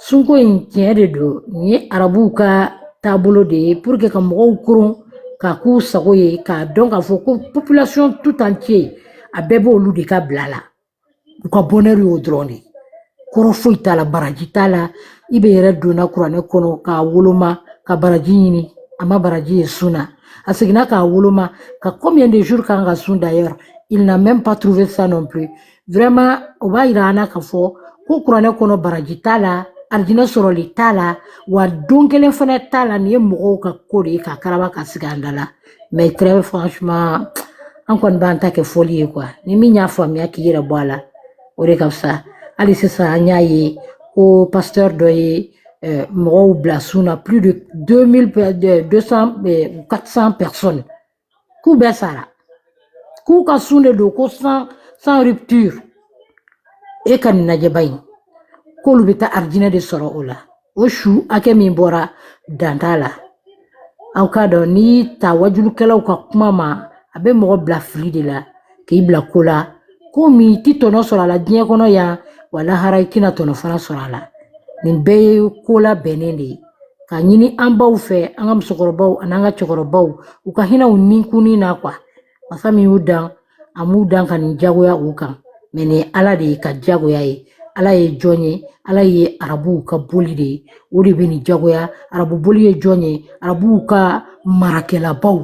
sunko in tiɲɛ de don nin ye arabuw ka taabolo de ye pour que ka mɔgɔw koron k'a k'u sago ye k'a dɔn k'a fɔ ko population tout entier a bɛɛ b'olu de ka bila la u ka bonheur y'o dɔrɔn de ye kɔrɔ foyi t'a la baraji t'a la IB yɛrɛ donna kuranɛ kɔnɔ k'a woloma ka baraji ɲini a ma baraji ye sun na a seginna k'a woloma ka combien de jours k'an ka sun d'ailleurs il n'a même pas trouvé ça non plus o b'a yira an na k'a fɔ ko kuranɛ kɔnɔ baraji t'a la arijinɛ sɔrɔli t'a la wa don kelen fana t'a la nin ye mɔgɔw ka ko de ye k'a karaba k'a sigi an da la mais très franchement an kɔni b'an ta kɛ fɔli ye quoi ni min y'a faamuya k'i yɛrɛ bɔ a la o de ka fisa hali sisan an y'a ye ko pasteur dɔ ye eh, mɔgɔw bila sun na plus de 200 400 eh, personnes k'u bɛ sara k'u ka sun de don ko sans rupture e ka nin lajɛba in k'olu bɛ taa arijinɛ de sɔrɔ o la o su hakɛ min bɔra dan t'a la aw k'a dɔn n'i taa wajulukɛlaw ka kuma ma a bɛ mɔgɔ bila fili de la k'i bila ko la ko min i ti tɔnɔ sɔrɔ a la diɲɛ kɔnɔ yan wa lahara i tɛna tɔnɔ fana sɔrɔ a la nin bɛɛ ye ko labɛnnen de ye ka ɲini an baw fɛ an ka musokɔrɔbaw ani an ka cɛkɔrɔbaw u ka hinɛ u ninkunni na quoi masa min y'u dan a m'u dan ka nin jagoya u kan mais nin ye ala de ye ka jagoya ye ala ye jɔn ye ala ye arabuw ka boli de ye o de bɛ nin jagoya arabu boli ye jɔn ye arabuw ka marakɛlabaw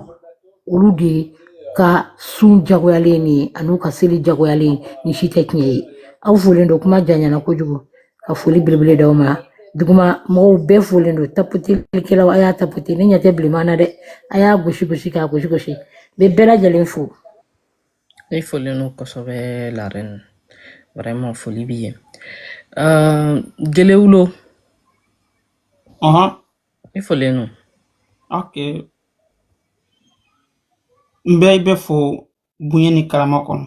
olu de ka sun jagoyalen nin ye an'u ka seli jagoyalen nin si tɛ tiɲɛ ye aw folen don kuma janyana kojugu ka foli belebele d'aw ma duguma mɔgɔw bɛɛ folen don tapotelikɛlaw a y'a tapote ne ɲɛ tɛ bilenman na dɛ a y'a gosi gosi k'a gosi gosi n bɛ bɛɛ lajɛlen fo i folen don kosɛbɛ la reine vraiment foli b'i ye uh, gelewulo i folen don ok n bɛ i bɛɛ fo bonya ni karama kɔnɔ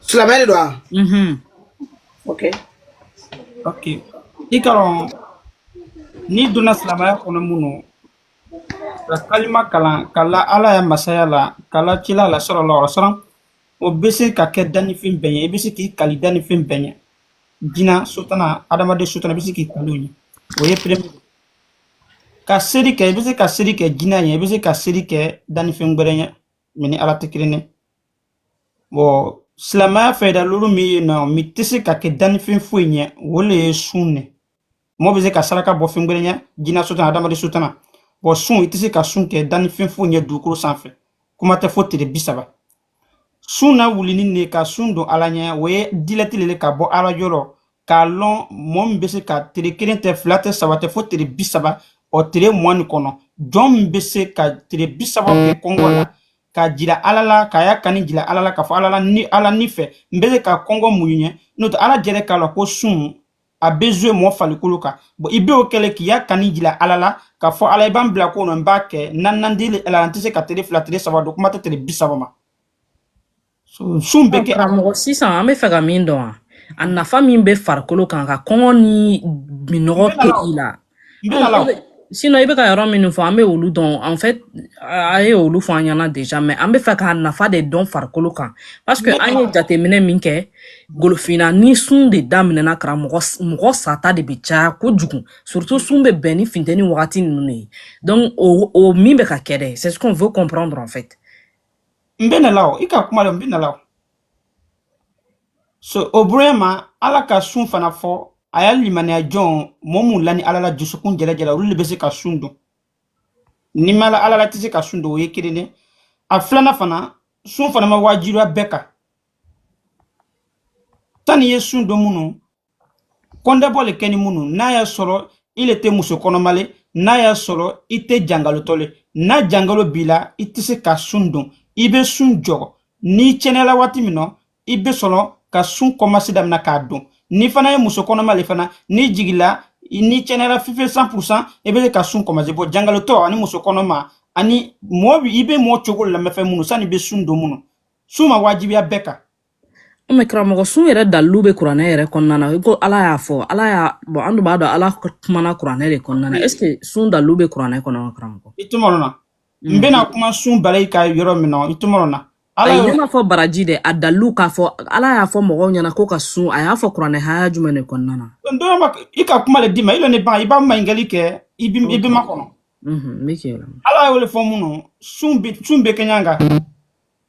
Silamɛ de don wa? Mhm. Ok. Ok. I k'a dɔn n'i donna silamɛya kɔnɔ mun nɔ ka kalima kalan ka la Ala ya masaya la ka la kila la sallallahu alaihi wasallam o bɛ se ka kɛ dannifɛn bɛɛ ɲɛ i bɛ se k'i kali dannifɛn bɛɛ ɲɛ jinɛ sotana adamaden sotana i bɛ se k'i kali o ɲɛ o ye premier ka seri kɛ i bɛ se ka seri kɛ jinɛ ɲɛ i bɛ se ka seri kɛ dannifɛn wɛrɛ ɲɛ min ni Ala tɛ kelen ye. Bon silamɛya fɛ da lolu min ye na min tɛ se ka kɛ dannifɛn foyi ɲɛ o le ye sun ne mɔgɔ bɛ se ka saraka bɔ fɛn wɛrɛ ɲɛ jinɛ sotana adamaden sotana bon sun i tɛ se ka sun kɛ dannifɛn foyi ɲɛ dugukolo sanfɛ kuma tɛ fo tile bi saba sun na wulini ne ka sun don ala ɲɛ o ye direct le ka bɔ ala yɔrɔ k'a lɔn mɔgɔ min bɛ se ka tile kelen tɛ fila tɛ saba tɛ fo tile bi saba ou tile mugan ni kɔnɔntɔn min bɛ se ka tile bi saba kɛ kɔngɔ la ka jira ala la k'i ya kani jira ala la k'a fɔ ala la ni ala ni fɛ n bɛ se ka kɔngɔ muɲu ɲɛ n'o tɛ ala jɛrɛ k'a la ko sun a bɛ jouer mɔɔ falikolo kan bon i b'o kɛlɛ k'i ya kani jira ala la k'a fɔ ala i ba n bila ko nɔ n b'a kɛ nanandi ala n tɛ se ka tele fila tele saba don kuma tɛ tele bi saba ma sun bɛ kɛ karamɔgɔ sisan an bɛ fɛ ka min dɔn a nafa min bɛ farikolo kan ka kɔngɔ ni minnɔgɔ kɛ i la sinon i bɛ ka yɔrɔ minnu fɔ an bɛ olu dɔn en fait a ye olu fɔ an ɲɛna déjà mais an bɛ fɛ k'a nafa de dɔn farikolo kan parce que an ye jateminɛ min kɛ golofinna ni sun de daminɛna karamɔgɔ mɔgɔ sata de bɛ caya kojugu surtout sun bɛ bɛn ni funteni wagati ninnu de ye donc o o min bɛ ka kɛ dɛ c'est ce qu'on veut comprendre en fait n bɛ na la o i ka kuma la n bɛ na la o so o bonya ma ala ka sun fana fɔ a y'a limaniya jɔn mɔɔ mun lani ala la dusukun jɛlɛjɛla olu le bɛ se ka sun don n'i ma la ala la tɛ se ka sun don o ye kelen de a filana fana sun fana ma wajibiya bɛɛ kan tan n'i ye sun don minnu kɔndɛbɔ le kɛ ni minnu n'a y'a sɔrɔ i le tɛ muso kɔnɔma le n'a y'a sɔrɔ i tɛ jangalotɔ le n'a jangalo b'i la i tɛ se ka sun don i bɛ sun jɔgɔ n'i cɛnɛyala waati min na i bɛ sɔrɔ ka sun kɔmasi damina k'a don n'i fana ye muso kɔnɔma le fana n'i jigila n'i cɛnɛyala fife cent pour cent i bɛ se ka sun kɔmasi bon jangalotɔ ani muso kɔnɔma ani mɔɔ i bɛ mɔɔ cogo lamɛnfɛn minnu sani i bɛ sun don minnu sun ma wajibiya bɛɛ kan o mais karamɔgɔ sun yɛrɛ dalilu bɛ kuranɛ yɛrɛ kɔnɔna na ko ala y'a fɔ ala y'a bon an dun b'a dɔn ala kumana kuranɛ de kɔnɔna na est ce que sun dalilu bɛ kuranɛ kɔnɔ wa karamɔgɔ i tɔmɔrɔ na n mm. bɛna kuma sun balayi ka yɔrɔ min na i tɔmɔrɔ na ayi ne ma fɔ baraji dɛ a dalilu k'a fɔ ala y'a fɔ mɔgɔw ɲɛna ko ka sun a y'a fɔ kuranɛ haya jumɛn de kɔnɔna na dɔma i ka kuma le d'i ma i lɔ ne ban i b'a maɲinkali kɛ i bɛ n makɔnɔ mm-hmm, ala y'o le fɔ minnu sun bɛ kɛɲɛ kan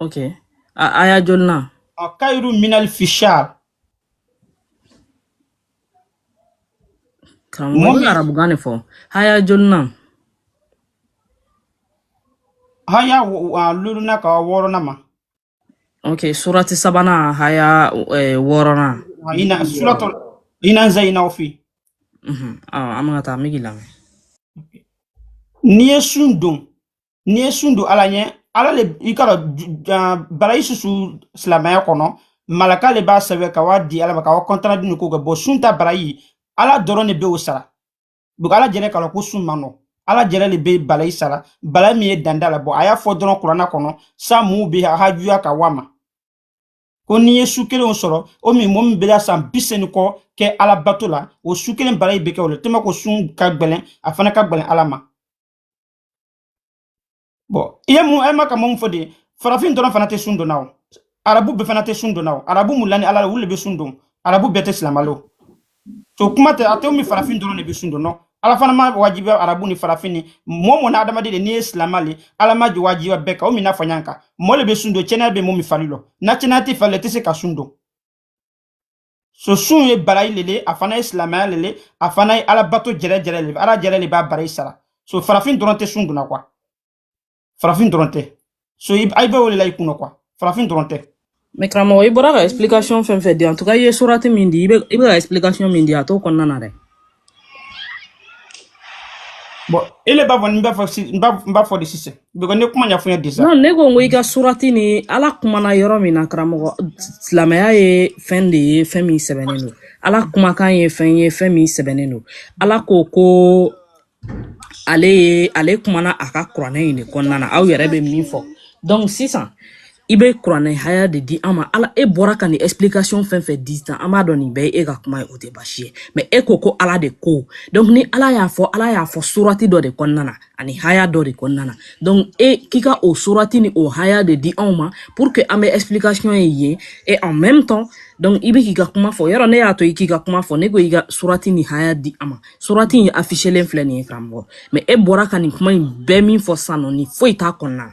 ok a aya joli na a kayiru min alfi shar karamɔgɔ i bɛ arabukan de fɔ haya joli na haya lulunan ka wɔɔrɔnan ma ok surati sabanan haya eh, wɔɔrɔnan ina suratɔ ina zayinaw fi an bɛ ka taa an bɛ k'i lamɛn n'i ye sun don n'i ye sun don ala ɲɛ ala le i ka dɔn barayi susu silamɛya kɔnɔ malaka le b'a sɛbɛ ka wa di ala ma ka wa compte rendu ko kɛ bon sun ta barayi ala dɔrɔn de be o sara donc ala jɛnɛ k'a lɔn ko sun man nɔ ala jɛnɛ le be balayi sara balayi min ye dan t'a la bon a y'a fɔ dɔrɔn kurana kɔnɔ sa muw be a hajuya ka wa ma ko n'i ye su kelen sɔrɔ o min mɔgɔ min bela san biseyin ni kɔ kɛ ala bato la o su kelen barayi be kɛ o la tellement ko sun ka gwɛlɛn a fana ka gwɛlɛn ala ma bon i ye mun e ma ka mun fɔ de farafin dɔrɔn fana tɛ sun don na o arabu bɛɛ fana tɛ sun don na o arabu min lani ala la olu de bɛ sun don arabu bɛɛ tɛ silama lo to kuma tɛ a tɛ min farafin dɔrɔn de bɛ sun don ala fana m'a wajibiya arabu ni farafin ni mɔɔ mɔɔ na adamaden de n'i ye silama le ala ma jɔ wajibiya bɛɛ kan o min na fɔ ɲan kan mɔɔ le bɛ sun don cɛnɛya bɛ mɔɔ min fari lɔ na cɛnɛya tɛ fari la i tɛ se ka sun don so sun ye barayi lele a fana ye silamaya lele a fana ye ala bato jɛrɛ jɛrɛ lele ala jɛrɛ le b'a barayi sara so farafin dɔrɔn tɛ sun don na quoi farafin dɔrɔn tɛ so i bɛ o de la i kunna quoi farafin dɔrɔn tɛ mais karamɔgɔ i bɔra ka explication fɛn fɛn di en tout cas i ye surati min di i bɛ i bɛ ka explication min di a t'o kɔnɔna na dɛ bon i le b'a fɔ n b'a fɔ si n b'a n b'a fɔ de sisan because ne kuma ɲɛfɔ n ye déjà non ne ko n ko i ka surati ni ala kumana yɔrɔ min na karamɔgɔ silamɛya ye fɛn de ye fɛn min sɛbɛnnen don ala kumakan ye fɛn ye fɛn min sɛbɛnnen don ala ko ko ale ye ale kumana a ka kuranɛ in de kɔnɔna na aw yɛrɛ bɛ min fɔ donc sisan i bɛ kuranɛ haya de di an ma ala e bɔra ka nin explication fɛn fɛn di tan an b'a dɔn nin bɛɛ ye e ka kuma ye o tɛ baasi ye mais e ko ko ala de ko donc ni ala y'a fɔ ala y'a fɔ surati dɔ de kɔnɔna na ani haya dɔ de kɔnɔna na donc e k'i ka o surati ni o haya de di anw ma pour que an bɛ explication ye yen et en même temps donc i bɛ k'i ka kuma fɔ yɔrɔ ne y'a to i k'i ka kuma fɔ ne ko i ka surati ni haya di an ma surati in affichelen filɛ nin ye karamɔgɔ mais e bɔra ka nin kuma in bɛɛ min fɔ sisan nɔ nin foyi t'a kɔnɔna na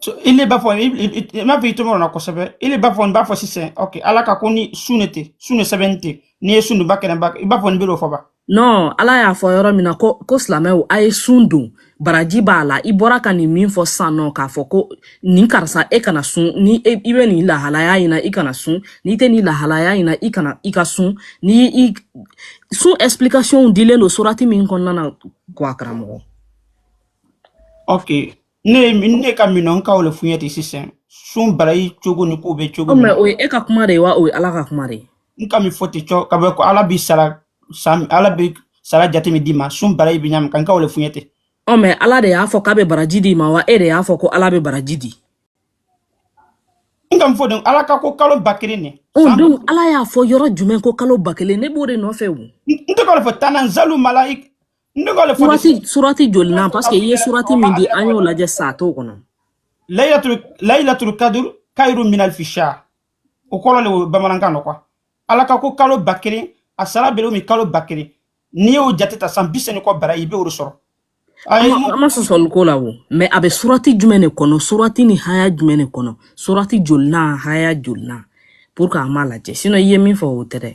So, i le b'a fɔ i- i- i- i m'a fɔ i tɔgɔ la kosɛbɛ i le b'a fɔ n b'a fɔ sisan ok ala ka ko ni sun ne tɛ sun ne sɛbɛn tɛ n'i ye sun ni ba kɛnɛ ba i b'a fɔ n bɛ o fɔ ba non ala y'a fɔ yɔrɔ min na ko ko silamɛw a ye sun don baraji b'a la i bɔra ka nin min fɔ sisan nɔ k'a fɔ ko nin karisa e kana sun ni e, i bɛ nin lahalaya in na i kana sun n'i tɛ nin lahalaya in na i kana i ka sun nin sun explication dilen don surati min kɔnɔna na quoi karamɔgɔ ok ne ye min- ne ka min n ka o le fɔ i ɲɛ ten sisan sun barayi cogo ni kow bɛ cogo o min maintenant o ye e ka kuma de ye wa o ye ala ka kuma de ye n ka min fɔ ten cɔ ka bɛ ko ala bi sara san ala bi sara jate min d'i ma sun barayi bi ɲa min kan ka o le fɔ i ɲɛ ten ɔ mais ala de y'a fɔ k'a bɛ baraji d'i ma wa e de y'a fɔ ko ala bɛ baraji di n ka min fɔ ten ala ka ko kalo ba kelen ne ɔ san donc ala y'a fɔ yɔrɔ jumɛn ko kalo ba kelen ne b'o de nɔfɛ o n n tɛ k'o de fɔ tanazalu malai surati jolinan parce que i ye surati min di an y'o lajɛ sa a t'o kɔnɔ layilatul kadur kayiru min alfi sha o kɔrɔ le o bamanankan nɔ quoi ala ka ko kalo ba kelen a sara bere min kalo ba kelen n'i y'o jate ta san bi seyin ni kɔ baara i bɛ o de sɔrɔ an ma sɔsɔli k'o la o mais a bɛ surati jumɛn de kɔnɔ surati ni haya jumɛn de kɔnɔ surati jolinan haya jolinan pour que an b'a lajɛ sinon i ye min fɔ o tɛ dɛ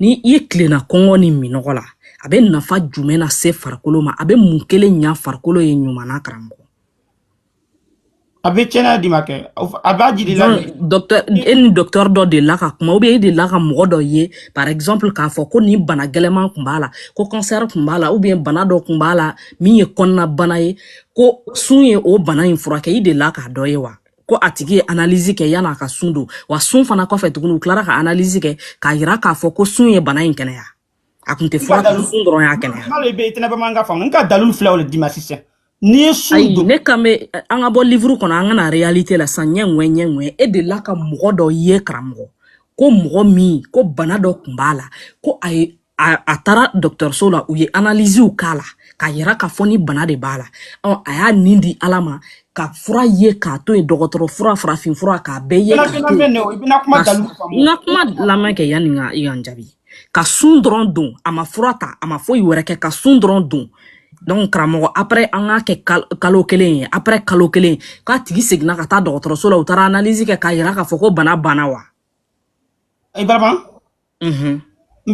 ni i ye tilenna kɔngɔ ni minnɔgɔ la a bɛ nafa jumɛn na se farikolo ma a bɛ mun kelen ɲa farikolo ye ɲuman na karamɔgɔ a bɛ kɛnɛya d'i ma kɛ a b'a jiri la docteur e ni docteur dɔ delila ka kuma ou bien e delila ka mɔgɔ dɔ ye par exemple k'a fɔ ko nin bana gɛlɛman kun b'a la ko cancer kun b'a la ou bien bana dɔ kun b'a la min ye kɔnɔna bana ye ko sun ye o bana in furakɛ i delila k'a dɔ ye wa ko a tigi ye analyse kɛ yan'a ka sun don wa sun fana kɔfɛ tuguni u tilara ka analyse kɛ k'a yira k'a fɔ ko sun ye bana in kɛnɛya a kun tɛ fura kan sun dɔrɔn y'a kɛnɛya n'ale bɛ tɛnɛ bamanankan faamu n ka dalilu fila o le d'i ma sisan n'i ye sun ayi don ne kan bɛ an ka bɔ livre kɔnɔ an ka na réalité la sisan ɲɛ ŋɛ ɲɛ ŋɛ e delila ka mɔgɔ dɔ ye karamɔgɔ ko mɔgɔ min ko bana dɔ kun b'a la ko a ye a, a taara dɔgɔtɔrɔso la u ye analiziw k'a la k'a yira k'a fɔ nin bana de b'a la ɔ a y'a nin di ala ma ka fura ye k'a to yen dɔgɔtɔrɔ fura farafin fura k'a bɛɛ ye k'a to yen n ka kuma lamɛn kɛ yanni i ka n jaabi ka sun dɔrɔn don a ma fura ta a ma foyi wɛrɛ kɛ ka sun dɔrɔn don donc karamɔgɔ après an k'a kɛ kalo kelen ye après kalo kelen k'a tigi seginna ka taa dɔgɔtɔrɔso la u taara analyse kɛ k'a yira k'a fɔ ko bana banna wa ibrahim n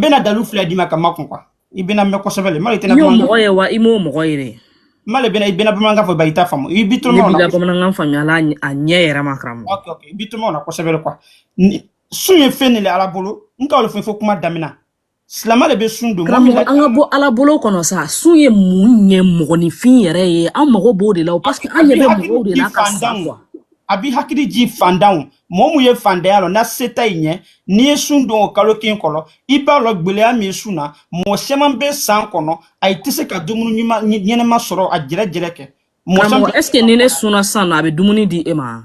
bɛna dalu fila d'i ma ka makun quoi i bɛna mɛn kosɛbɛ le mali tɛna i y'o mɔgɔ ye wa i m'o mɔgɔ ye dɛ mali bɛna i bɛna bamanankan fɔ ba i t'a faamu i bi tɔmɔ na bamanankan faamuya la a ɲɛ yɛrɛ ma karamɔgɔ ok ok i bi tɔmɔ na kosɛbɛ le quoi sun ye fɛn de le ala bolo n ka o le fɔ kuma damina silama le bɛ sun don karamɔgɔ an ka bɔ ala bolo kɔnɔ sa sun ye mun ɲɛ mɔgɔninfin yɛrɛ ye an mago b'o de la parce que an ɲɛ bɛ mɔgɔw de la ka sa quoi a b'i hakili ji fandanw mɔgɔ mun ye fandanya lɔ na seta i ɲɛ n'i ye sun don o kalo kelen kɔnɔ i b'a lɔn gwɛlɛya min ye sun na mɔgɔ caman bɛ san kɔnɔ ayi tɛ se ka dumuni ɲuman ɲɛnama sɔrɔ a jɛrɛjɛrɛ kɛ karamɔgɔ est ce que ni ne sunna sisan nɔ a bɛ dumuni di e ma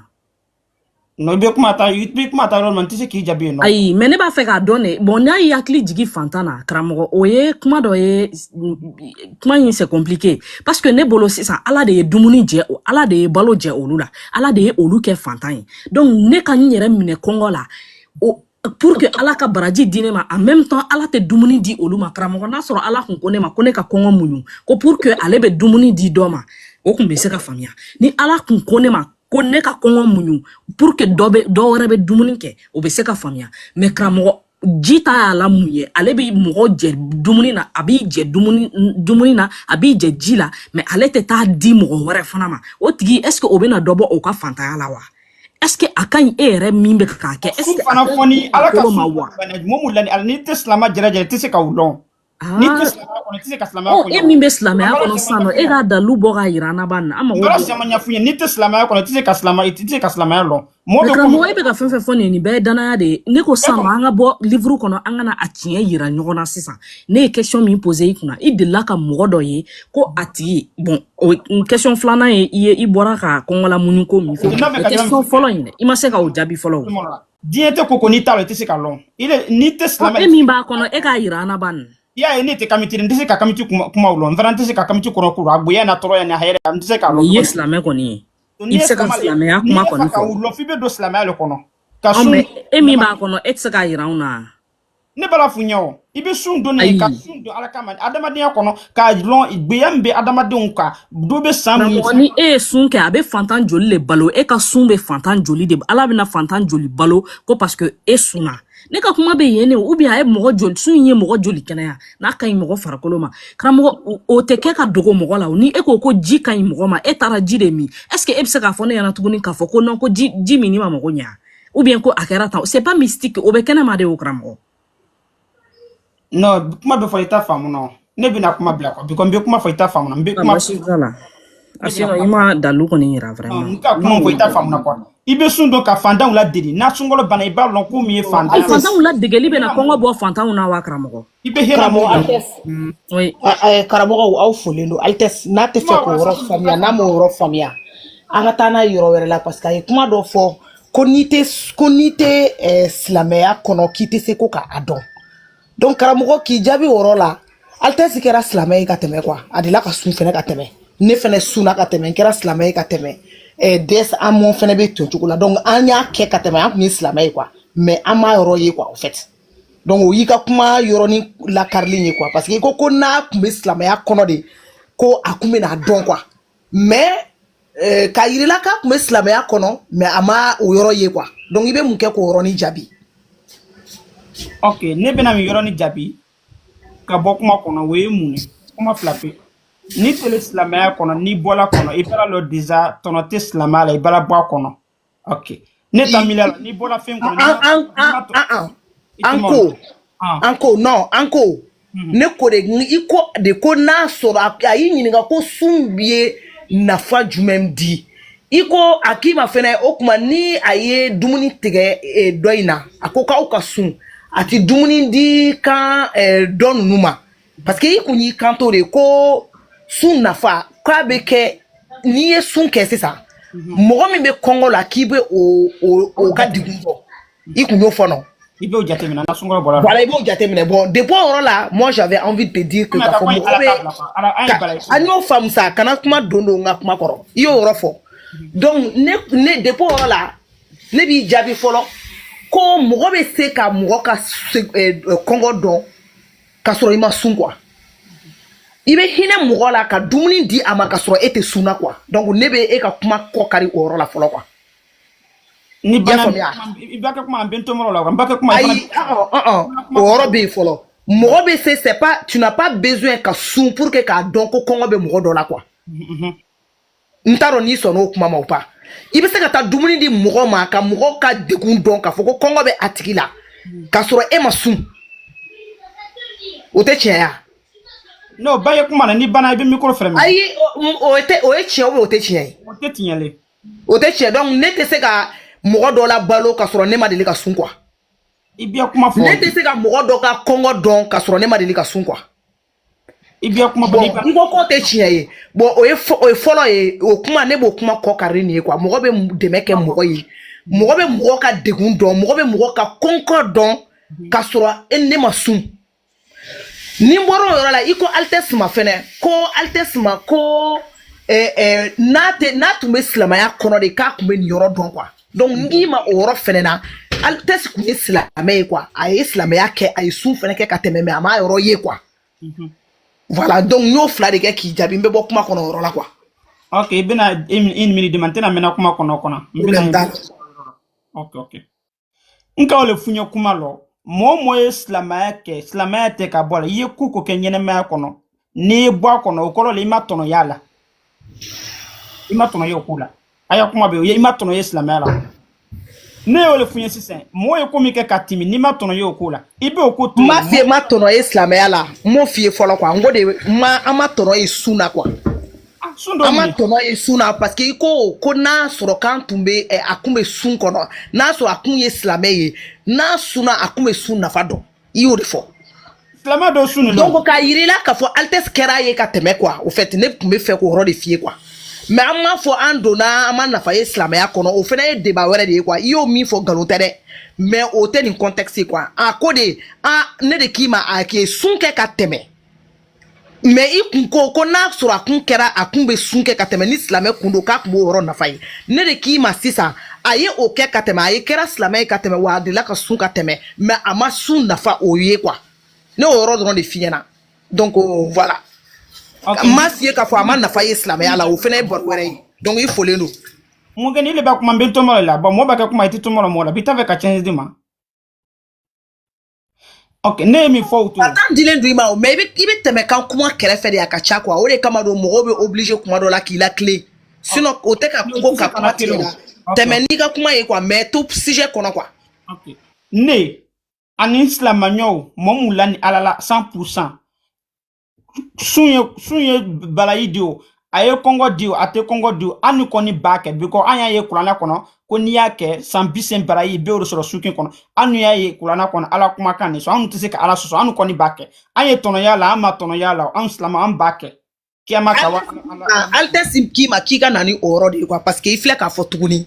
non i bɛ kuma ta i bɛ kuma ta yɔrɔ min n tɛ se k'i jaabi yen non ayi mais ne b'a fɛ k'a dɔn de bon n'a y'i hakili jigi fantan na karamɔgɔ o ye kuma dɔ ye kuma in c'est compliqué parce que ne bolo sisan ala de ye dumuni jɛ o ala de ye balo jɛ olu la ala de ye olu kɛ fantan ye donc ne ka n yɛrɛ minɛ kɔngɔ la pour que ala ka baraji di ne ma en même temps ala tɛ dumuni di olu ma karamɔgɔ n'a sɔrɔ ala kun ko ne ma ko ne ka kɔngɔ muɲu ko pour que ale bɛ dumuni di dɔ ma o kun bɛ se ka faamuya ni ala kun ko ne ma ko ne ka kɔngɔ muɲu pour que dɔ bɛ dɔ wɛrɛ bɛ dumuni kɛ o bɛ se ka faamuya mais karamɔgɔ ji ta y'a la mun ye ale bɛ mɔgɔ jɛ dumuni na a b'i jɛ dumuni na a b'i jɛ ji la mais ale tɛ taa di mɔgɔ wɛrɛ fana ma o tigi est ce que o bɛna dɔ bɔ o ka fantanya la wa est ce que a ka ɲi e yɛrɛ min bɛ k'a kɛ est ce que a ka ɲi dugukolo ma wa n'i tɛ silama jɛrɛjɛrɛ i tɛ se ka o lɔn Ah. N'i tɛ silamɛya kɔnɔ, i tɛ se ka silamɛya ko ɲɛnabɔ. E min bɛ silamɛya kɔnɔ sisan nɔ, e k'a dalu bɔ k'a yira an na ban. An mago bɛ. N taara caman ɲɛf'u ye, n'i tɛ silamɛya kɔnɔ, i tɛ se ka silamɛya, i tɛ se ka silamɛya lɔn. Mɔgɔ bɛ. Karamɔgɔ, e bɛ ka fɛn fɛn fɔ nin ye, nin bɛɛ ye danaya de ye. Ne ko sisan nɔ, an ka bɔ livre kɔnɔ, an ka na a tiɲɛ yira ɲɔgɔn na sisan. Ne ye question min poser i kunna, i delila ka mɔgɔ dɔ ye ko a tigi, bon o question filanan ye i ye, i bɔra ka kɔngɔ lamuɲu ko min fɛ. O question fɔlɔ in dɛ, i ma se ka o jaabi fɔlɔ o. diinɛ tɛ ko ko n'i t'a la i tɛ se k'a lɔn i le n'i tɛ silamɛ e min b'a kɔnɔ e k'a yira an na ban i y'a ye ne tɛ kamiti n tɛ se ka kamiti kumaw lɔn n fana n tɛ se ka kamiti kɔnɔ kow a gbeya n'a tɔɔrɔya ni a hɛrɛ n tɛ se k'a lɔn i ye silamɛ kɔni ye i bɛ se ka silamɛya kuma kɔni fɔ n'i y'a fɛ ka u lɔn f'i bɛ don silamɛya le kɔnɔ ka sun e min b'a kɔnɔ e tɛ se k'a yira anw na ne bala f'u ɲɛ o i bɛ sun don ne ka sun don ala kama adamadenya kɔnɔ k'a lɔn gbeya min bɛ adamadenw kan dɔ bɛ san min mɔgɔ ni e ye sun kɛ a bɛ fantan joli le balo e ka sun bɛ fantan joli de ala bɛna fantan joli balo ko parce que e sunna ne ka kuma bɛ yen ne ou bien a ye mɔgɔ joli sun in ye mɔgɔ joli kɛnɛya n'a ka ɲi mɔgɔ farikolo ma karamɔgɔ o tɛ kɛ ka dogo mɔgɔ la o ni e ko ko ji ka ɲi mɔgɔ ma e taara ji de min est ce que e bɛ se k'a fɔ ne ɲɛna tuguni k'a fɔ ko non ko ji ji min ma mɔgɔ ɲɛ ou bien ko a kɛra tan c'est pas mystique o bɛ kɛnɛma de o karamɔgɔ non kuma bɛ fɔ i t'a faamu nɔ ne bɛna kuma bila quoi because n bɛ kuma fɔ i t'a faamu nɔ n bɛ kuma basi t'a la a sinon i ma dalu kɔni yira vraiment n ka kuma fɔ i t'a faamu na quoi i bɛ sun don ka fantanw ladeli n'a sunkalo banna i b'a lɔn ko min ye fantan ye fantanw ladegeli bɛna kɔngɔ bɔ fantanw na wa karamɔgɔ I bɛ hɛrɛ mɔgɔ karamɔgɔ aw folen don altɛsi n'a tɛ fɛ k'o yɔrɔ faamuya n'a m'o yɔrɔ faamuya an ka taa n'a ye yɔrɔ wɛrɛ la parce que a ye kuma dɔ fɔ ko n'i tɛ ko n'i tɛ silamɛya kɔnɔ k'i tɛ se ko k'a dɔn donc karamɔgɔ k'i jaabi o yɔrɔ la altɛsi kɛra silamɛ ye ka tɛmɛ quoi a delila ka sun fɛnɛ ka tɛmɛ ne fɛnɛ sunna ka tɛmɛ n kɛra silamɛ ye ka tɛmɛ des Amon fɛnɛ bɛ ton cogo la donc an y'a kɛ ka tɛmɛ an kun ye silamɛ ye quoi mais an m'a yɔrɔ ye quoi en fait donc o y'i ka kuma yɔrɔnin lakarilen ye quoi parce que i ko ko n'a kun bɛ silamɛya kɔnɔ de ko a kun bɛn'a dɔn quoi mais euh, k'a yirila k'a kun bɛ silamɛya kɔnɔ mais a ma o yɔrɔ ye quoi donc i bɛ mun kɛ k'o yɔrɔnin jaabi. ok ne bɛna nin yɔrɔnin jaabi ka bɔ kuma kɔnɔ o ye mun ye kuma fila pe n'i tele silamɛya kɔnɔ n'i bɔl'a kɔnɔ i bal'a lɔn déjà tɔnɔ tɛ silamɛya la i bala bɔ a kɔnɔ. ok ne ta miiriya la n'i bɔra fɛn kɔnɔ. an an an an an ko an ko non an ko. Mhm. ne ko de i ko de ko n'a sɔrɔ a y'i ɲininka ko sun ye nafa jumɛn di i ko a k'i ma fɛnɛ o kuma ni a ye dumuni tigɛ e, dɔ in na a ko k'aw ka sun a ti dumuni di kan e, dɔ ninnu ma parce que i kun y'i kanto de ko sun nafa k'a bɛ kɛ n'i ye sun kɛ sisan mɔgɔ min bɛ kɔngɔ la k'i bɛ o o o ka degun bɔ i kun y'o fɔ nɔ. i b'o jateminɛ na sunkalo bɔra. voilà i b'o jateminɛ bon depuis o yɔrɔ la moi j'avais envie de te dire que k'a fɔ mɔgɔ bɛ an y'o faamu sa kana kuma don don n ka kuma kɔrɔ i y'o yɔrɔ fɔ donc ne ne depuis o yɔrɔ la ne b'i jaabi fɔlɔ ko mɔgɔ bɛ se ka mɔgɔ ka kɔngɔ dɔn. k'a sɔrɔ i ma sun quoi i bɛ hinɛ mɔgɔ la ka dumuni di a ma ka sɔrɔ e tɛ sunna quoi donc ne bɛ e ka kuma kɔ kari o yɔrɔ la fɔlɔ quoi ni bana i ba kɛ kuma an bɛ to yɔrɔ la wa n ba kɛ kuma ayi o yɔrɔ bɛ yen fɔlɔ mɔgɔ bɛ se c'est pas tu n'as pas besoin ka sun pour que k'a dɔn ko kɔngɔ bɛ mɔgɔ dɔ la quoi n t'a dɔn n'i sɔnna o kuma ma ou pas i bɛ se ka taa dumuni di mɔgɔ ma ka mɔgɔ ka degun dɔn k'a fɔ ko kɔngɔ bɛ a tigi la k'a sɔrɔ e ma sun o tɛ tiɲɛ ya n'o ba ye kuma na ni bana i bɛ micro fɛnɛ minɛ ayi o- o tɛ o ye tiɲɛ ou bien o tɛ tiɲɛ ye o tɛ tiɲɛ le o tɛ tiɲɛ donc ne tɛ se ka mɔgɔ dɔ labalo ka sɔrɔ ne ma deli ka sun quoi i bɛ kuma fɔ ne tɛ se ka mɔgɔ dɔ ka kɔngɔ dɔn ka sɔrɔ ne ma deli ka sun quoi i bɛ kuma bon i ko k'o tɛ tiɲɛ ye bon o ye o ye fɔlɔ ye o kuma ne b'o kuma kɔ kari nin ye quoi mɔgɔ bɛ dɛmɛ kɛ mɔgɔ ye mɔgɔ bɛ mɔgɔ ka degun dɔn mɔgɔ bɛ mɔgɔ ka kɔngɔ dɔn ka sɔrɔ e ne ma sun ni n bɔra o yɔrɔ la i ko altesse ma fɛnɛ ko altesse ma ko eh, eh, n'a tɛ n'a tun bɛ silamɛya kɔnɔ de k'a tun bɛ nin yɔrɔ dɔn quoi donc n k'i ma o yɔrɔ fɛnɛ na altesse kun ye silamɛ ye quoi a ye silamɛya kɛ a ye sun fɛnɛ kɛ ka tɛmɛ mais a m'a yɔrɔ ye quoi voilà donc n y'o fila de kɛ k'i jaabi n bɛ bɔ kuma kɔnɔ o yɔrɔ la quoi ok i bɛna une minute di ma n tɛna mɛnna kuma kɔnɔ kɔnɔ n problème t'a la bɛna ok ok n ka o le f'u ɲɛ kuma lɔ mɔɔ mɔɔ ye silamɛya kɛ silamɛya tɛ ka bɔ a la i ye ko ko kɛ ɲɛnɛmaya kɔnɔ n'i ye bɔ a kɔnɔ o kɔrɔ la i ma tɔnɔ y'a la i ma tɔnɔ ye o ko la a y'a kuma bɛ o ye i ma tɔnɔ ye silamɛya la ne y'o le f'u ɲɛ sisan mɔgɔ ye ko min kɛ ka timi n'i ma tɔnɔ ye o ko la i b'o ko to ma f'i ye ma tɔnɔ ye silamɛya la n m'o f'i ye fɔlɔ quoi n ko de ma an ma tɔnɔ ye sun na quoi an ma tɔnɔ ye sun na parce que i ko ko n'a sɔrɔ k'an tun bɛ a kun bɛ sun kɔnɔ n'a sɔrɔ a kun ye silamɛ ye n'a sunna a kun bɛ sun nafa dɔn i y'o de fɔ silamɛ dɔ sun donc k'a yirila k'a fɔ altesse kɛra ye ka tɛmɛ quoi au fait ne tun bɛ fɛ k'o yɔrɔ de f'i ye quoi mais an m'a fɔ an donna an ma nafa ye silamɛya kɔnɔ o fana ye débat wɛrɛ de ye quoi i y'o min fɔ nkalon tɛ dɛ mais o tɛ nin contexte ye quoi a ko de a ne de k'i ma a k'i sun kɛ ka tɛmɛ mais i kun ko ko n'a sɔrɔ a kun kɛra a kun bɛ sun kɛ ka tɛmɛ ni silamɛ kun don k'a kun b'o yɔrɔ nafa ye ne de k'i ma sisan a ye o kɛ ka tɛmɛ a ye kɛra silamɛ ye ka tɛmɛ wa a delila ka sun ka tɛmɛ mais a ma sun nafa o ye quoi ne y'o yɔrɔ dɔrɔn de f'i ɲɛna donc voilà okay. n m'a f'i ye k'a fɔ a ma nafa ye silamɛya la o fana ye baro wɛrɛ ye donc i folen don mun kɛ ni le bɛ kuma n bɛ tɔmɔ de la bon mɔgɔ b'a kɛ kuma i tɛ tɔmɔ la mɔgɔ la bi t'a fɛ ka chance d'i ma ok ne ye min fɔ u t'o la. temps dilen don i ma o mais i bɛ i bɛ tɛmɛ kan kuma kɛrɛfɛ de a ka ca quoi o de kama don mɔgɔw bɛ obligé kuma dɔ la k'i latilen sinon o tɛ ka ko ka kuma tigɛ la tɛmɛ n'i ka kuma ye quoi mais to sujet kɔnɔ quoi. ok ne ani n silamɛɲɔw mɔgɔ mun lani ala la 100 pourcent. sun ye sun ye barayi di o a ye kɔngɔ di o a tɛ kɔngɔ di o annu kɔni b'a kɛ because an y'a ye kuranɛ kɔnɔ ko n'i y'a kɛ san bisegin barayi i b'o le sɔrɔ su kelen kɔnɔ annu y'a ye kuranɛ kɔnɔ ala kumakan nin sɔn an tɛ se ka ala sɔsɔ an kɔni b'a kɛ an ye tɔnɔ y'a la an ma tɔnɔ y'a la an silama an b'a kɛ kiyama kama altesse k'i ma k'i ka na ni o yɔrɔ de ye quoi parce que i filɛ k'a fɔ tuguni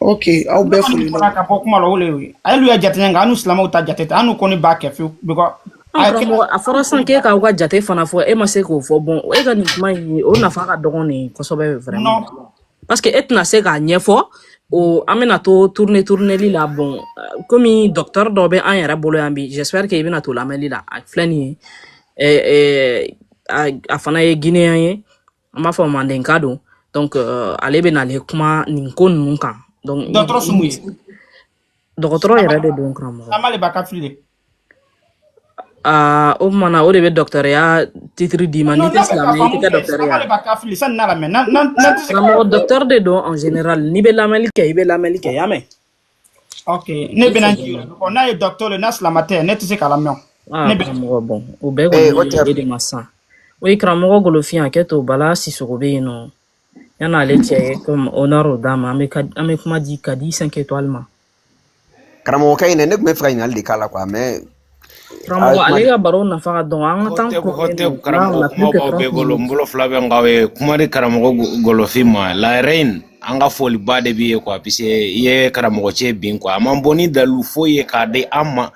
ok aw bɛɛ foli la ka bɔ kuma la o le ye alu ya jate nka annu silamɛw ta jate tɛ annu kɔni b'a kɛ fewu because a fɔra san k'e k'aw ka jate fana fɔ e ma se k'o fɔ bon e ka nin kuma in o nafa ka dɔgɔn nin kosɛbɛ vraiment parce que e tɛna se k'a ɲɛfɔ o an bɛna to tourne tourneli la bon komi docteur dɔ bɛ an yɛrɛ bolo yan bi j'espère que i bɛna to lamɛnli la a filɛ nin ye a fana ye guinéen ye an b'a fɔ mandenka don donc euh, ale bɛna le kuma nin ko ninnu kan donc dɔgɔtɔrɔ sumu ye dɔgɔtɔrɔ yɛrɛ de don karamɔgɔ silama le ba kafiri de Ah, o tuma na o de bɛ docteurya titre d'i ma n'i tɛ silamɛ ye i tɛ kɛ dɔgɔtɔrɔ ye silama le ba kafiri sanni n'a lamɛn n'an n'an n'an tɛ se ka karamɔgɔ docteur de don en général n'i bɛ lamɛnli kɛ i bɛ lamɛnli kɛ i y'a mɛn ok ne bɛna n jigin kɔ n'a ye docteur ye n'a silama tɛ ne tɛ se k'a lamɛn karamɔgɔ bon o bɛɛ kɔni y'e de ma san o ye karamɔgɔ golofin i hakɛ to bala sisoko bɛ yen nɔ yanni ale cɛ ye komi honneur d'a ma an bɛ an bɛ kuma di kadi 5 étoiles ma karamɔgɔkɛ in dɛ ne tun b'a fɛ ka ɲininkali de k'a la quoi mais karamɔgɔ ale ka baro nafa ka dɔgɔ an ka taa kɔrɔkɛ tɛ karamɔgɔ kumabaw bɛɛ bolo n bolo fila bɛ n kɔ aw ye kuma di karamɔgɔ golofin ma la reine an ka foliba de b'i ye quoi puisque i ye karamɔgɔ cɛ bin quoi a ma bɔ ni dalilu foyi ye k'a di an ma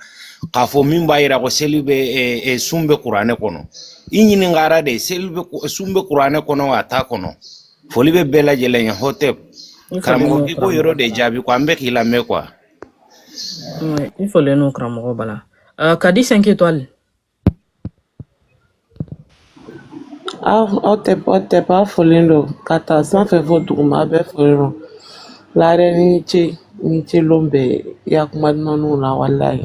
k'a fɔ min b'a yira ko seli bɛ e, e, sun bɛ kuranɛ kɔnɔ i ɲininkara de seli bɛ sun bɛ kuranɛ kɔnɔ a t'a kɔnɔ foli bɛ bɛɛ lajɛlen ye hɔtɛp karamɔgɔ i k'o yɔrɔ de jaabi quoi an bɛ k'i lamɛn quoi i folen don karamɔgɔ bala uh, kadi 5 étoiles hɔtɛp hɔtɛp aw folen don k'a ta sanfɛ fo duguma aw bɛɛ folen don la reine i ni ce ni ce lon bɛɛ ya kuma dumanw la walayi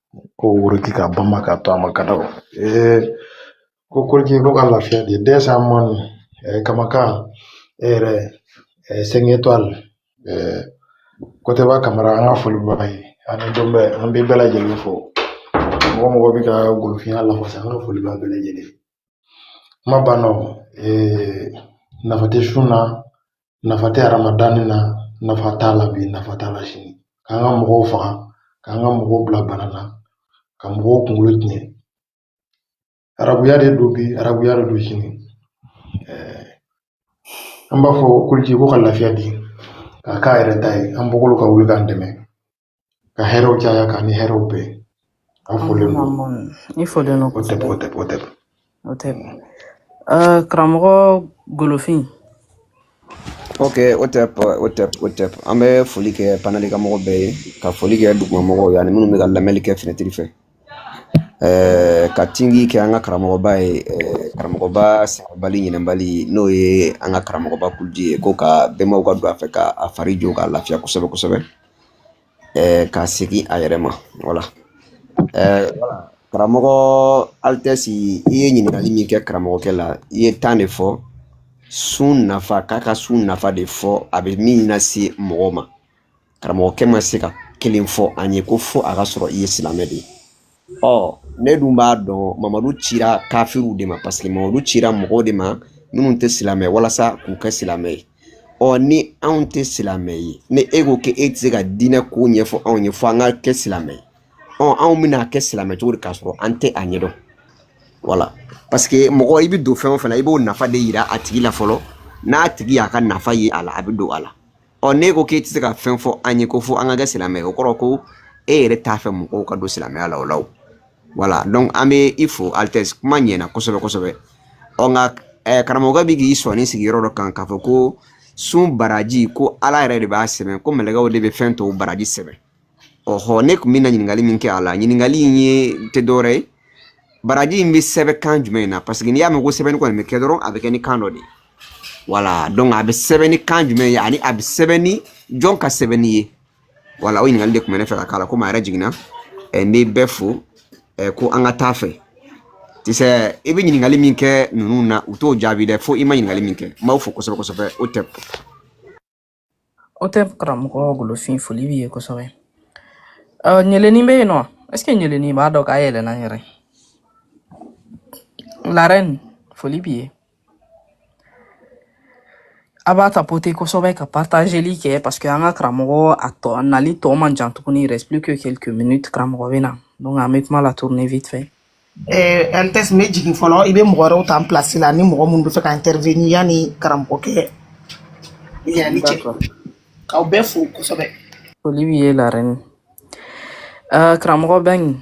ko woroki ka bama ka to a ma ka daw ee ko koliki ko ka lafiya de dɛsɛ man kamakan e yɛrɛ cinq étoiles kotɛba kamara an ka foli baga ye ani dɔn bɛ an bɛ bɛɛ lajɛlen fo mɔgɔ o mɔgɔ bɛ ka golofinya lafasa an ka foli b'a bɛɛ lajɛlen kuma banna nafa tɛ sun na nafa tɛ hadamadenni na nafa t'a la bi nafa t'a la sini k'an ka mɔgɔw faga k'an ka mɔgɔw bila bana na ka mɔgɔw kunkolo tiɲɛ arabuya de don bi arabuya de don sini an b'a fɔ koliki ko ka lafiya di k'a k'a yɛrɛ ta ye an bɔkolo ka wuli k'an dɛmɛ ka hɛrɛw caya k'an ni hɛrɛw bɛn an folen don i folen don hotep hotep hotep hotep karamɔgɔ golofin ok hotep hotep hotep an bɛ foli kɛ panɛli kan mɔgɔ bɛɛ ye ka foli kɛ duguma mɔgɔw ye ani minnu bɛ ka lamɛnni kɛ fenɛtiri fɛ Eh, ka tingi kɛ an ka karamɔgɔba ye eh, karamɔgɔba sabali ɲinɛbali n'o ye an ka karamɔgɔba kuludi ye ko ka bɛnbaw ka don a fɛ ka a fari jo k'a lafiya kosɛbɛ kosɛbɛ ɛɛ ka segin a yɛrɛ ma voilà ɛɛ karamɔgɔ altesse i ye ɲininkali min kɛ karamɔgɔkɛ la i ye tan de fɔ sun nafa k'a ka sun nafa de fɔ a bɛ min lase mɔgɔ ma karamɔgɔkɛ ma se ka kelen fɔ an ye ko fo a ka sɔrɔ i ye silamɛ de ye ɔ ne dun b'a dɔn mamadu cira kafiriw de ma parce que mamadu cira mɔgɔw de ma minnu tɛ silamɛ walasa k'u kɛ silamɛ ye ɔ ni anw tɛ silamɛ ye ni e ko k'e tɛ se ka diinɛ ko ɲɛfɔ anw ye fo an ka kɛ silamɛ ye ɔ anw bɛna kɛ silamɛ cogo di k'a sɔrɔ an tɛ a ɲɛdɔn voilà parce que mɔgɔ i bɛ don fɛn o fɛn na i b'o nafa de yira a tigi la fɔlɔ n'a tigi y'a ka nafa ye a la a bɛ don a la ɔ n'e ko k'e tɛ se ka fɛn fɔ an ye ko fo an ka kɛ silamɛ ye o kɔrɔ ko e yɛrɛ t'a fɛ mɔgɔw ka don silamɛya la o la o voilà donc an bɛ i fo altesse kuma ɲɛna kosɛbɛ kosɛbɛ ɔ nka ɛɛ eh, karamɔgɔkɛ bɛ k'i sɔnni sigi yɔrɔ dɔ kan k'a fɔ ko sun baraji ko ala yɛrɛ de b'a sɛbɛn ko mɛlɛkɛw de bɛ fɛn tɔw baraji sɛbɛn ɔhɔ ne tun bɛna ɲininkali min kɛ a la ɲininkali in ye tɛ dɔwɛrɛ ye baraji in bɛ sɛbɛn kan jumɛn na parce que n'i y'a mɛn ko sɛbɛnni kɔni bɛ kɛ dɔrɔn a bɛ kɛ ni kan dɔ de ye voilà donc a bɛ sɛbɛn ni kan jumɛn ye ani a bɛ sɛbɛn ni jɔn ka sɛbɛnni ye voilà o ɲininkali de tun bɛ ne fɛ ka k'a la komi a yɛrɛ jiginna ɛ n bɛ bɛɛ fo ɛ ko an ka taa fɛ tisɛ i bɛ ɲininkali min kɛ ninnu na u t'o jaabi dɛ fo i ma ɲininkali min kɛ n b'aw fo kosɛbɛ kosɛbɛ hotep Au top karamɔgɔ golofin foli b'i ye kosɛbɛ Ɔ, ɲeleni bɛ yen nɔ est ce que ɲeleni b'a dɔn k'a yɛlɛnna n yɛrɛ la reine foli b'i ye a b'a tapoter kosɛbɛ ka partageli kɛ parce que an ka karamɔgɔ a tɔ a nali tɔ man jan tuguni il reste plus que quelques minutes karamɔgɔ bɛ na donc an bɛ kuma la tourner vite fait Eh, an tɛ bɛ jigin fɔlɔ i bɛ mɔgɔ wɛrɛw ta n place la ni mɔgɔ minnu bɛ fɛ ka intervenir yanni karamɔgɔkɛ yɛlɛli cɛ D'accord. k'aw bɛɛ fo kosɛbɛ Foli b'i ye la reine. Uh, karamɔgɔ Bɛngi,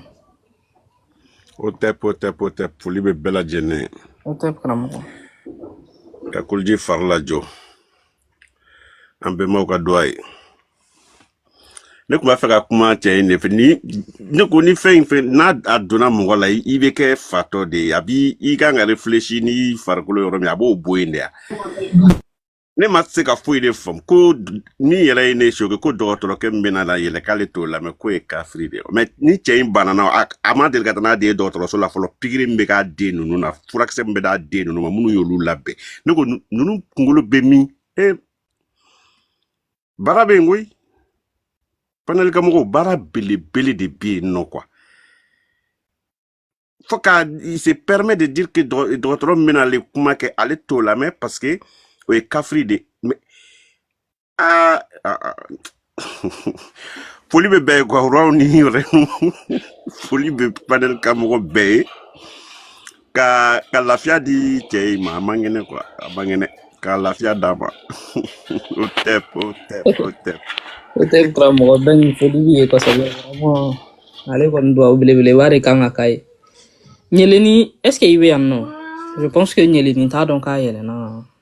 au top au top au top foli bɛ bɛɛ lajɛlen ye au top karamɔgɔ. ka kuluji fari lajɔ an bɛnbaw ka duwa ye ne tun b'a fɛ ka kuma cɛ in de fɛ ni ne ko ni fɛn in fɛn n'a a donna mɔgɔ la i bɛ kɛ fatɔ de ye a b'i kan ka réfléchir ni farikolo yɔrɔ min a b'o bɔ yen de ya ne ma se ka foyi de faamu ko min yɛrɛ ye ne choqué ko dɔgɔtɔrɔkɛ min bɛna na yɛlɛ k'ale t'o lamɛn k'o ye kafiri de ye mais ni cɛ in banana a ma deli ka taa n'a den ye dɔgɔtɔrɔso la fɔlɔ pikiri min bɛ k'a den ninnu na furakisɛ min bɛ d'a den ninnu ma minnu y'olu labɛn ne ko ninnu kunkolo bɛ min e baara bɛ yen koyi panel ka mɔgɔw baara belebele de bɛ yen nɔ quoi fo ka il se permet de dire que dɔgɔtɔrɔ min bɛna ale kuma kɛ ale t'o lamɛn parce que o ye kafiri de aa foli bɛ bɛɛ ye quoi roiw ni reinew foli bɛ panel ka mɔgɔ bɛɛ ye ka ka lafiya di cɛ in ma a man kɛnɛ quoi a man kɛnɛ ka lafiya d'a ma au top au top au top au top karamɔgɔ Bɛngi foli b'i ye kosɛbɛ vraiment ale kɔni duwawu belebeleba de kan ka k'a ye ɲeleni est ce que i bɛ yan nɔ je pense que ɲeleni t'a dɔn k'a yɛlɛnna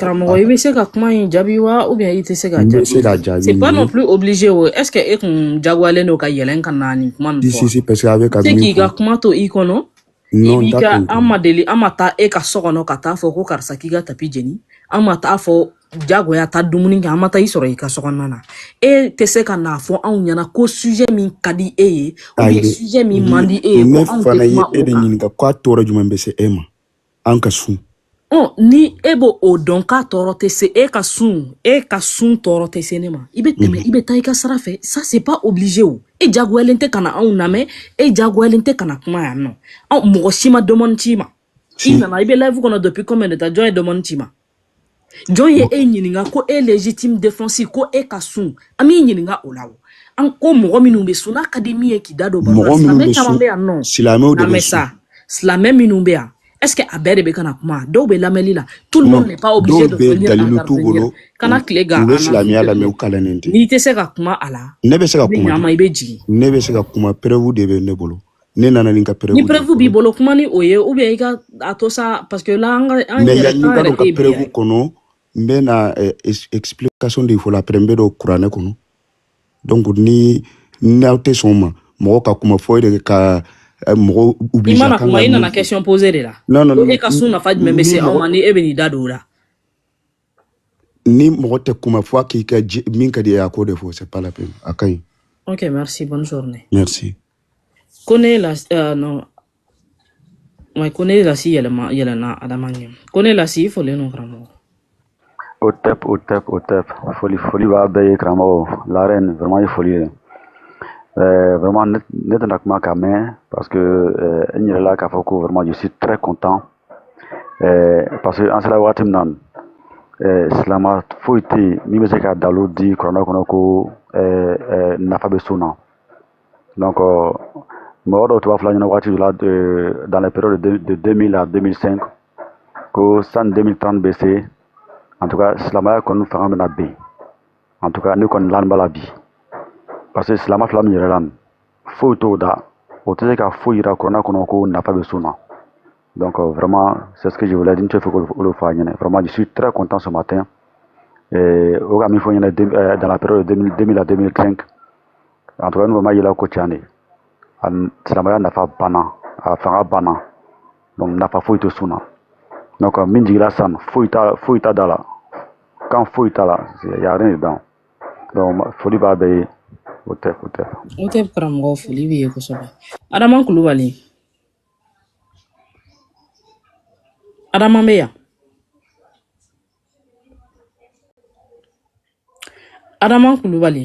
karamɔgɔ i bɛ se ka kuma in jaabi wa ou bien i tɛ se ka jaabi. n bɛ se ka jaabi. c'est pas non plus obligé o est ce que e kun jagoyalen don ka yɛlɛn ka na nin kuma ninnu fɔ. si si parce que a bɛ ka min fɔ. se k'i ka kuma to i kɔnɔ. non i b'i ka an ma deli an ma taa e ka so kɔnɔ ka taa fɔ ko karisa k'i ka tapis jeni an ma taa fɔ jagoya taa dumuni kɛ an ma taa i sɔrɔ i ka so kɔnɔna na e tɛ se ka n'a fɔ anw ɲɛna ko sujet min ka di e ye ou bien sujet min man di e ye ko anw tɛ kuma o kan. ne fana ye e de ɲininka k'a tɔɔrɔ jumɛn bɛ se e ma. an ka sun ɔ ni e b'o dɔn k'a tɔɔrɔ tɛ se e ka sun e ka sun tɔɔrɔ tɛ se ne ma i bɛ tɛmɛ i bɛ taa i ka sira fɛ ça c'est pas obligé o e jagoyalen tɛ ka na anw lamɛn e jagoyalen tɛ ka na kuma yan nɔ anw mɔgɔ si ma demande ci i ma i nana i bɛ live kɔnɔ depuis combien de temps jɔn ye demande ci i ma jɔn ye e ɲininka ko e légitime défense ko e ka sun an b'i ɲininka o la o an ko mɔgɔ minnu bɛ sun n'a ka di min ye k'i da don baro la silamɛ caman bɛ yan nɔ silamɛw de bɛ sun silamɛ minnu bɛ yan est-ce que a bɛɛ de bɛ ka na kuma dɔw bɛ lamɛnni la tout le monde n'est pas obligé de venir intervenir kana tile gan an na silamɛya lamɛn u kalannen tɛ n'i tɛ se ka kuma a la ne bɛ se ka kuma i bɛ jigin ne bɛ se ka kuma preuve de bɛ ne bolo ne nana ni ka preuve ni preuve b'i bolo kuma ni o ye ou bien i ka a to sa parce que la an ka an mais yɛrɛ an yɛrɛ ka preuve kɔnɔ n bɛ na eh, explication di fɔlɔ après n bɛ don kuranɛ kɔnɔ donc ni n'aw tɛ sɔn ma mɔgɔ ka kuma fo e de ka eh, mɔgɔ oblige kan ka i nana question poser de la non non e ka sun nafa jumɛn bɛ se anw ma ni e bɛ n'i da don o la ni mɔgɔ tɛ kuma fo a k'i ka min ka d'i ye a k'o de fɔ c'est pas la peine a ka ɲi ok merci bonne journée merci kone la uh, non ouais, kone lasi yɛlɛma yɛlɛna adama ɲɛ kone lasi i folen don karamɔgɔ hotep hotep hotep foli foli b'a bɛɛ ye karamɔgɔ la reine vraiment ye foli ye euh, vraiment ne tɛna kuma ka mɛn parce que euh, n yɛlɛla k'a fɔ ko vraiment je suis très content ɛɛ parce que an sera waati min na ɛɛ silama foyi tɛ yen min bɛ se ka dalilu di kuranɛ kɔnɔ ko ɛɛ ɛɛ nafa bɛ sun na donc mɔgɔ dɔw tun b'a fɔla n ɲɛna waati dɔ la ɛɛ dans les périodes de de 2000 à 2005 ko sani 2030 bɛ se en tout cas silamaya kɔni fanga bɛna bin en tout cas ne kɔni lanin b'a la bi parce que silama fila min yɛlɛla nin foyi t'o da o tɛ se ka foyi yira kuranɛ kɔnɔ ko nafa bɛ sun na donc euh, vraiment c'est ce que je voulais dire n tun b'a fɛ k'o le fɔ a ɲɛna vraiment je suis très content ce matin euh, o ka min fɔ n ɲɛna euh, dans la période de 2000 à 2005 en tout cas n'o m'a yira ko tiɲɛ de a silamɛya nafa banna a fanga banna donc nafa foyi tɛ sun na donc min jigila sisan foyi t'a foyi t'a da la kan foyi t'a la y a rien dedans foli b'a bɛɛ ye hotep hotep hotep karamɔgɔ foli b'i ye kosɛbɛ adama kulubali adama bɛ yan adama kulubali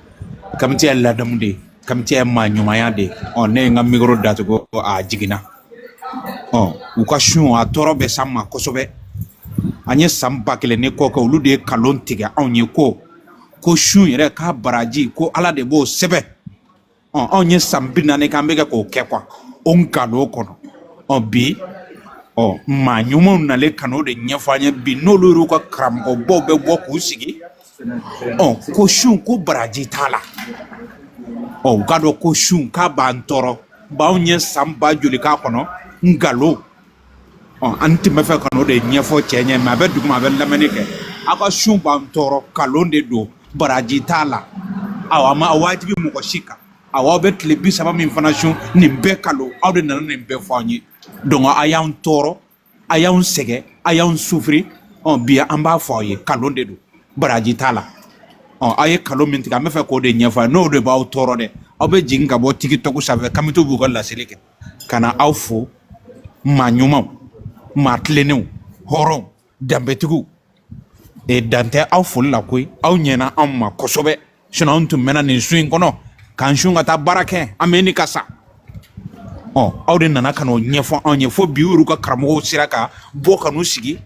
kamiti ye ladamu de ye kamiti ye maa ɲumanya de ye ɔ ne ye n ka mikoro datugu a jiginna ɔ u ka sun a tɔɔrɔ bɛ s'an ma kosɛbɛ an ye san ba kelen ni kɔ kɛ olu de ye kalon tigɛ anw ye ko ko sun yɛrɛ k'a baraji ko ala de b'o sɛbɛn ɔ anw ye san bi naani k'an bɛ kɛ k'o kɛ quoi o nkalon kɔnɔ ɔ bi ɔ maa ɲumanw nalen ka n'o de ɲɛfɔ an ye bi n'olu y'u ka karamɔgɔbaw bɛ bɔ k'u sigi ɔ ko sun ko baraji t'a la ɔ u k'a dɔn ko sun k'a b'an tɔɔrɔ b'anw ye san ba joli k'a kɔnɔ nkalon ɔ an tun bɛ fɛ ka n'o de ɲɛfɔ cɛ ɲɛ ma a bɛ duguma a bɛ lamɛnni kɛ aw ka sun b'an tɔɔrɔ nkalon de don baraji t'a la aw a ma a wajibi mɔgɔ si kan aw aw bɛ tile bi saba min fana sun nin bɛɛ kalon aw de nana nin bɛɛ fɔ an ye donc a y'an tɔɔrɔ a y'anw sɛgɛn a y'anw sufiri ɔ bi an b'a fɔ aw ye kalon de don baraji t'a la ɔ aw ye kalon min tigɛ an bɛ fɛ k'o de ɲɛfɔ a ye n'o de b'aw tɔɔrɔ dɛ aw bɛ jigin ka bɔ tikitɔku sanfɛ kamitiw b'u ka laseli kɛ ka na aw fo maa ɲumanw maa tilennenw hɔrɔnw danbetigiw e dan tɛ aw foli la koyi aw ɲɛna anw ma kosɛbɛ sinon anw tun mɛnna nin sun in kɔnɔ k'an sun ka taa baara kɛ an bɛ ɲini ka sa ɔ aw de nana ka n'o ɲɛfɔ anw ye fo bi olu ka karamɔgɔw sera ka bɔ ka n'u sigi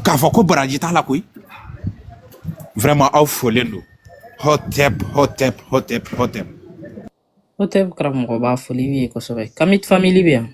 k'a fɔ ko baraji t'a la koyi vraiment aw folen don hɔtɛp hɔtɛp hɔtɛp hɔtɛp hɔtɛp karamɔgɔba foli b'i ye kosɛbɛ kamit famili bɛ yan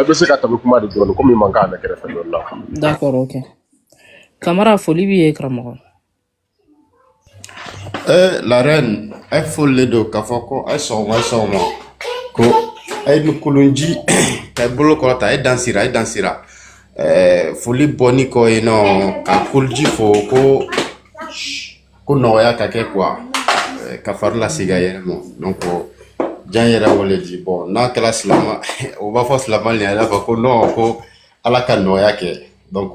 i bɛ se ka tabi kuma de dɔɔni komi mankan bɛ kɛrɛfɛ dɔɔni la d'accord ok kamara foli b'i ye karamɔgɔ Eh, la reine, a foli le do k'a fɔ ko a ye sɔgɔma a ye sɔgɔma ko a ye ni kolonji ka i bolo kɔrɔta a ye dan sira a ye dan sira Eh, foli bɔnin kɔ yen nɔ ka koliji fo ko Ko nɔgɔya ka kɛ quoi ka fari lasegin a yɛrɛ ma donc jan yɛrɛ wele di bon n'a kɛra silama o b'a fɔ silama le y'a fɔ ko non ko ala ka nɔgɔya kɛ donc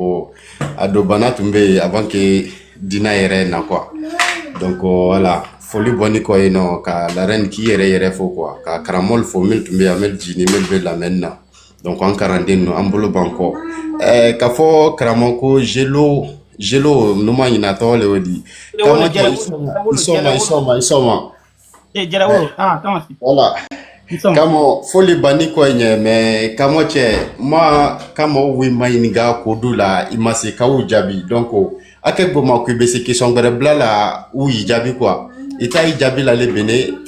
a don bana tun bɛ yen avant que dina yɛrɛ na quoi donc voilà foli bɔnin kɔ yen nɔ ka la reine k'i yɛrɛ yɛrɛ fo quoi ka karamɔgɔ fo min tun bɛ yan mɛn jiginnin mɛn bɛ lamɛnni na Donc an kalanden ninnu an bolo b'an kɔ ɛɛ ka fɔ karamɔgɔ ko jelo jelo ni n ma ɲinɛ a tɔgɔ le y'o di Taama jara i sɔn i sɔɔma i sɔɔma i sɔɔma ee jara wolo ah taama si voilà i sɔn kamɔ foli banni kɔ ɲɛ mais kamɔ cɛ ma kamɔ wi maɲininka ko du la i ma se ka u jaabi donc a kɛ gboma ko i bɛ se question gbɛrɛ bila la u y'i jaabi quoi i ta y'i jaabi la le bene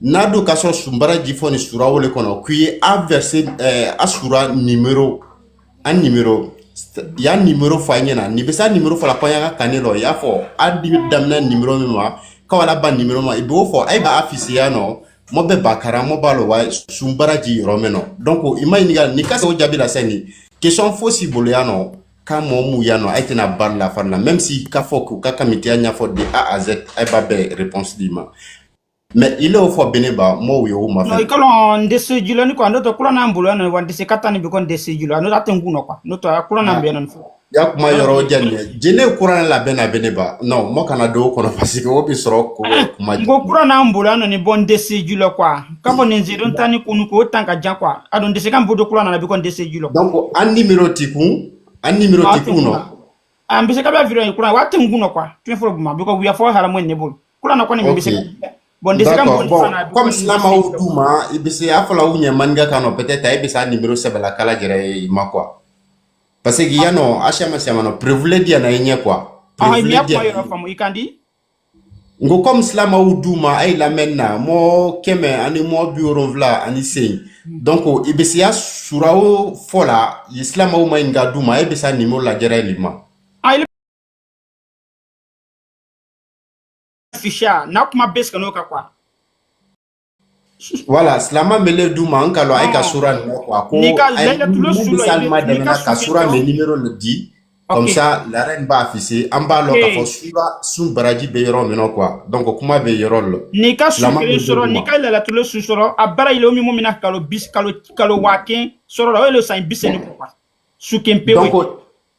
n'a dun ka sɔrɔ sun baraji fɔnin sura wo le kɔnɔ k'i ye a verset ɛɛ a sura nimero a nimero y'a nimero fɔ an ɲɛna nin bɛ se a nimero fɔ la ko an y'a ka kanni lɔ i y'a fɔ a di daminɛ nimero min ma ka wa laban nimero ma i b'o fɔ a ye b'a afficher yan nɔ mɔ bɛɛ b'a karan mɔ b'a lɔ wa sun baraji yɔrɔ mɛn nɔ donc i ma ɲininka n'i ka se o jaabi la sɛ nin question fosi bolo yan nɔ ka mɔɔ mu yan nɔ a ye tɛna bari la fari la même si k'a fɔ k'u ka kamitiya ɲɛfɔ de a à z a ye b'a bɛɛ réponse d'i ma Mais i l'o fɔ bene ba m'o ye o ma non fɛ i ka lɔn n tɛ se jula ni quoi n'o tɛ kuran n'an bolo yan nɔ wa n tɛ se ka tan ni bi ko n tɛ se jula n'o tɛ a tɛ n kun na quoi n'o tɛ a kuran n'an bɛ yan nɔ fɔ ya kuma yɔrɔ jani dɛ jene kuran la bɛna bene ba non mɔ kana don o kɔnɔ parce que o bi sɔrɔ ko kuma n ko kuran n'an bolo yan nɔ ni bɔ n tɛ se jula quoi ka bɔ nin zidon tan ni kun k'o tan ka jan quoi a don n tɛ se ka n bolo kuran nana bi ko n tɛ se jula donc an nimero ti kun an nimero a ti tɛ kun kun na nɔ a bɛ se ka bɛ video ye kuran wa a tɛ n kun nɔ quoi tu fɔlɔ buma bɛ ko wiya fɔ haramu ne bolo kuran na kɔni bɛ se bon de se ka mun fana comme silamaw du ma i bɛ se a fɔla u ɲɛ maninka kan nɔ peut-être a bɛ se a numéro sɛbɛla k'a lajɛrɛ i ma quoi parce que yan nɔ a caman caman nɔ preuve le diya na i ɲɛ quoi preuve le diya na i ɲɛ quoi N ko kɔmi silamaw du ma a ye lamɛnni na mɔ kɛmɛ ani mɔ bi wolonfila ani seyin donc i bɛ se a sura o fɔ la i silamaw maɲinga du ma ayi bɛ se a nimero lajɛrɛ l'i ma siya n'a kuma bɛ n'o ka quoi Wala silamɛ bɛ ne du ma n ka a ka sura nin ko a ko ni ka sura min ni de di asa la in b'a fi se an b'a dɔn ka fɔ su sun baraji bɛ yɔrɔ min qu dɔn ko kuma bɛ yɔrɔ la ni ka su sɔrɔ ka la su sɔrɔ a bara yɔrɔ min min kalo kalo kalo waa sɔrɔ o san bi su pe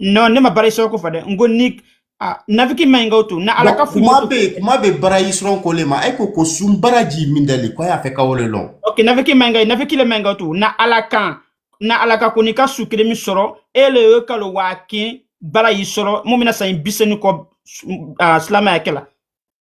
non ne ma baraji sɔrɔ ko fɔ dɛ n ko ni ah, nafiki man ɲi ka o to na ala ka fo kuma bɛ kuma bɛ baraji sɔrɔ ko le ma e ko ko sun baraji min dali ko a y'a fɛ ka o le lɔn ok nafiki man ɲi ka nafiki le man ɲi ka o to na ala kan na ala ka ko n'i ka su kelen min sɔrɔ e le ye kalo waa kin baraji sɔrɔ mɔ min na san bisɛni kɔ ah, silamaya kɛ la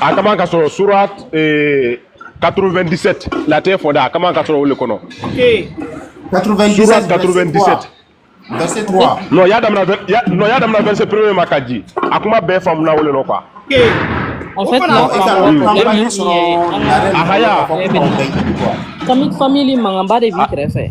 a ka man ka sɔrɔ surat 97 latɛ fɔ da a ka man ka sɔrɔ o le kɔnɔ surat 97 verset 3 non y'a damina verset premier ma ka ji a kuma bɛɛ faamuna o le nɔ quoi en fait n'a faamuna problème ye a haya famille famille mankanba de b'i kɛrɛfɛ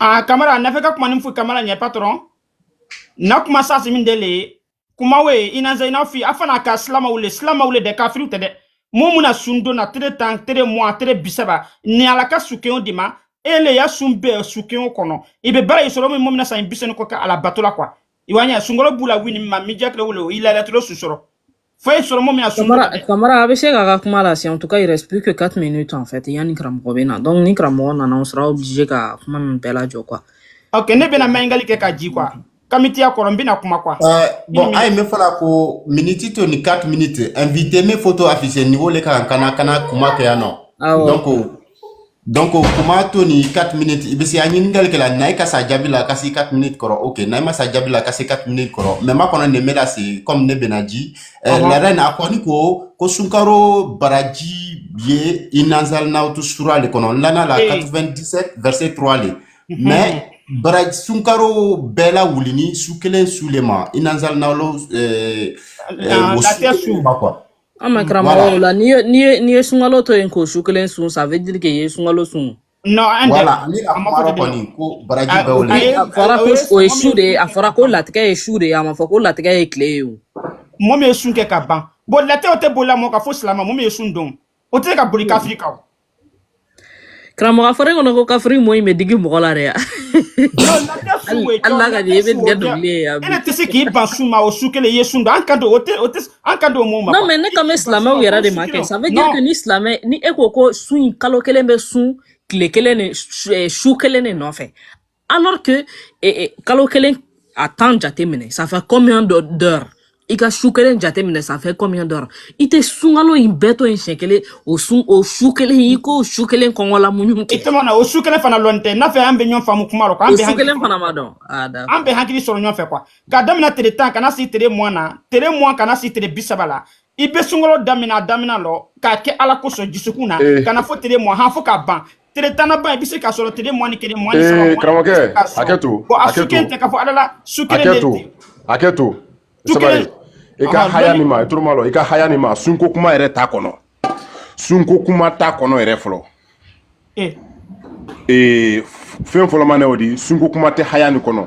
Ah, kamara na fɛ ka kuma ni foyi kamara ɲɛ patron na kuma sasi min dele ye kuma we inna anzalna fi a fana ka silamaw le silamaw le dɛ kafiriw tɛ dɛ mɔ min na sun don na tere tan tere muwa tere bisaba ni ala ka su kelen o d'i ma e le ya sun bɛɛ su kelen o kɔnɔ i bɛ baraji sɔrɔ min mɔ min na san bisɛni kɔ ka ala bato la quoi i wa ɲɛ sunkɔrɔ b'u la wini ma mi jakile wolo i lalatolo su sɔrɔ foyi sɔrɔ mɔ min a sunmara kamara a bɛ se k'a ka kuma lase en tout cas il reste plus que 4 minutes en fait yanni karamɔgɔ bɛ na donc ni karamɔgɔ nana on sera obligé ka kuma ninnu bɛɛ lajɔ quoi ok ne bɛna maɲingali kɛ ka ji quoi kamitiya kɔrɔ n bɛna kuma quoi euh, bon a ye min fɔla ko miniti to ni 4 minutes invité min photo affiché niveau le kan kana kana kuma kɛ yan nɔ donc donc kuma to ni 4 minutes i bɛ se an ɲininkali kɛ la n'ayi ka s'a jaabi la ka se 4 minutes kɔrɔ ok n'ayi ma s'a jaabi la ka se 4 minutes kɔrɔ mais ma kɔnɔ nin bɛ na se comme ne bɛna ji laada in a kɔni ko ko sunkaro baraji ye inna anzalnahu sura le kɔnɔ lana la 97 verset 3 le mais bara sunkaro bɛɛ la wulini su kelen su le ma inna anzalnahu lafiya su ma quoi ah mais karamɔgɔ là n'i ye n'i ye n'i ye sunkalo to yen k'o su kelen sun ça veut dire k'e ye sunkalo sun non an voilà ni a kumara kɔni ko baraji bɛɛ wele a fɔra ko o ye su de ye a fɔra ko latigɛ ye su de ye a ma fɔ ko latigɛ ye tile ye o mɔgɔ min ye sun kɛ ka ban bon latigɛ o tɛ boli la mɔgɔ kan fo silama mɔgɔ min ye sun don o tɛ ka boli kafiri kan karamɔgɔ a fɔra kɔnɔ ko kafiri mɔ in bɛ digi mɔgɔ la dɛ Non, na tɛ su ye hali n'a ka di i bɛ tigɛ dɔnkili ye yan bi Ele tɛ se k'i ban sun ma o su kelen i ye sun don an kan don o tɛ o tɛ an kan don o mɔɔ ma non quoi mais ne kan bɛ tɛ se ka silamɛw sun yɛrɛ o de su ma kɛ kelen ça veut dire que non ni silamɛ ni e ko ko su in kalo kelen bɛ sun tile kelen de su eh, su kelen de nɔfɛ alors que eh, eh, kalo kelen a tan jate minɛ ça fait combien de d'heures i ka su kelen jate minɛ ça fait combien d'heures i tɛ sunkalo in bɛɛ to yen siɲɛ kelen o sun o su kelen i k'o su kelen kɔngɔ la muɲu kɛ i tɛmɛ na o su kelen fana lɔn tɛ n'a fɛ an bɛ ɲɔgɔn faamu kuma la quoi o su kelen fana ma dɔn ah d'accord an bɛ hakili sɔrɔ ɲɔgɔn fɛ quoi ka daminɛ tile tan ka na se tile mugan na tile mugan ka na se tile bi saba la i bɛ sunkalo daminɛ a daminɛ lon k'a kɛ ala kosɔn dusukun na ka na fo tile mugan han fo k'a ban tile tan laban i bɛ se k'a sɔrɔ tile mugan ni kelen mugan ni saba mugan ni karamɔgɔkɛ hakɛ to bon a su kelen tɛ k'a fɔ ala la su kelen de tɛ hakɛ to sabali i ka haya nin ma i toro malɔ i ka haya nin ma sunko kuma yɛrɛ t'a kɔnɔ sunko kuma t'a kɔnɔ yɛrɛ fɔlɔ ee fɛn fɔlɔman ne o di sunko kuma tɛ haya nin kɔnɔ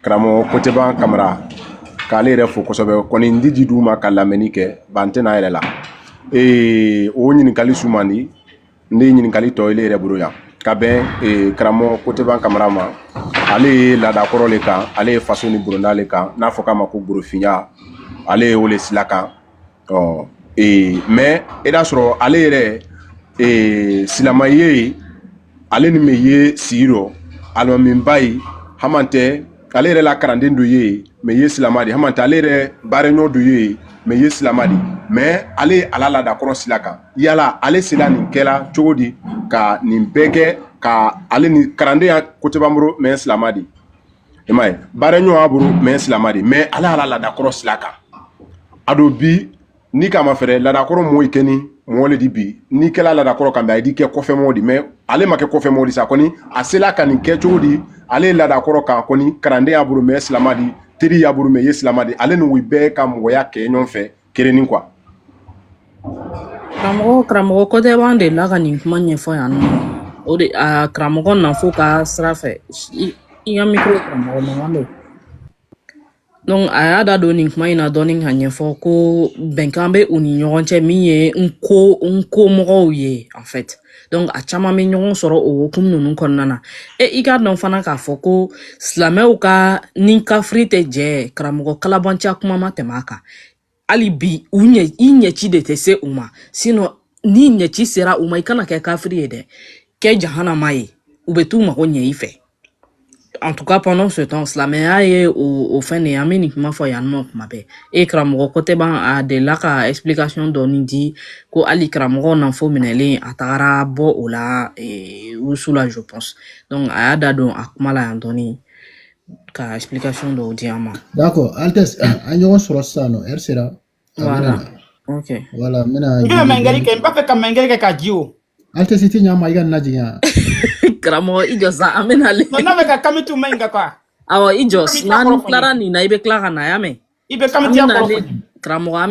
karamɔgɔ koteban kamara k'ale yɛrɛ fo kosɛbɛ kɔni n di ji duuma ka lamɛnni kɛ ba n tɛna yɛrɛ la ee o ɲininkali su man di n di ɲininkali to ile yɛrɛ bolo yan ka bɛn ee karamɔgɔ koteban kamara ma ale ye laada kɔrɔ le kan ale ye faso ni boronda le kan n'a fɔ k'a ma ko gborofinya ale ye o le sila kan ɔ ee mais i d'a sɔrɔ ale yɛrɛ ee silama ye ale ni min ye sigi rɔ alimamiba ye hamantɛ ale yɛrɛ la kalanden dɔ ye min ye silama di hamantɛ ale yɛrɛ baaraɲɔ dɔ ye min ye silama di mais ale ye a la laada kɔrɔ sila kan yala ale sela nin kɛ la cogo di ka nin bɛɛ kɛ ka ale ni kalanden ye koteban bolo min silama di i m'a ye baaraɲɔgɔn y'a bolo min silamɛ di mais ale y'a la laada kɔrɔ sila kan a dun bi n'i k'a mafɛrɛ laada kɔrɔ mɔɔ kɛnin mɔɔ le di bi n'i kɛla laada kɔrɔ kan bi ayi d'i kɛ kɔfɛ mɔɔ di mais ale ma kɛ kɔfɛ mɔɔ di sa kɔni a sela ka nin kɛ cogo di ale ye laada kɔrɔ kan kɔni kalanden y'a bolo min silamɛ di teri y'a bolo min ye silamɛ di ale ni u bɛɛ ka mɔgɔya kɛ ɲɔgɔn fɛ kelennin quoi karamɔgɔ karamɔgɔ kotɛban delila ka nin kuma ɲɛfɔ yan nɔ o de a karamɔgɔ nanfo ka sira fɛ i i ka mikro karamɔgɔ mankan bɛ donc a y'a da don nin kuma in na dɔɔni ka ɲɛfɔ ko bɛnkan bɛ u ni ɲɔgɔn cɛ min ye nko mɔgɔw ye en fait donc a caman bɛ ɲɔgɔn sɔrɔ o hukumu ninnu kɔnɔna na e i k'a dɔn fana k'a fɔ ko silamɛw ka ni kafiri tɛ jɛ karamɔgɔ kalabanciya kuma ma tɛmɛ a kan hali bi u ɲɛ i ɲɛci de tɛ se u ma sinon n'i ɲɛci sera u ma i kana kɛ kafiri ye dɛ kɛ jahanama ye u bɛ t'u mago ɲɛ i fɛ en tout cas pendant ce temps silamɛya ye o fɛn de ye an bɛ nin kuma fɔ yan nɔ kuma bɛɛ e karamɔgɔ kotɛban a delila ka explication dɔɔni di ko hali karamɔgɔ nanfo minɛlen a tagara bɔ o la wusu la je pense donc a y'a da don a kuma la yan dɔɔni ka explication dɔw di an ma. d'accord Altesse an ɲɔgɔn sɔrɔ sisan nɔ heure sera. Voilà. Ok. Voilà, n bɛna. I bɛna mɛngɛli kɛ n b'a fɛ ka mɛngɛli kɛ ka jigin o. Altesse tiɲɛ ma i kana jigin yan. Karamɔgɔ i jɔ sa an bɛ na le. N b'a fɛ ka kamitu mɛngɛ quoi. Awɔ i jɔ n'an tilara nin na i bɛ tila ka na y'a mɛn. I bɛ kamituya kɔrɔ. Karamɔgɔ an bɛ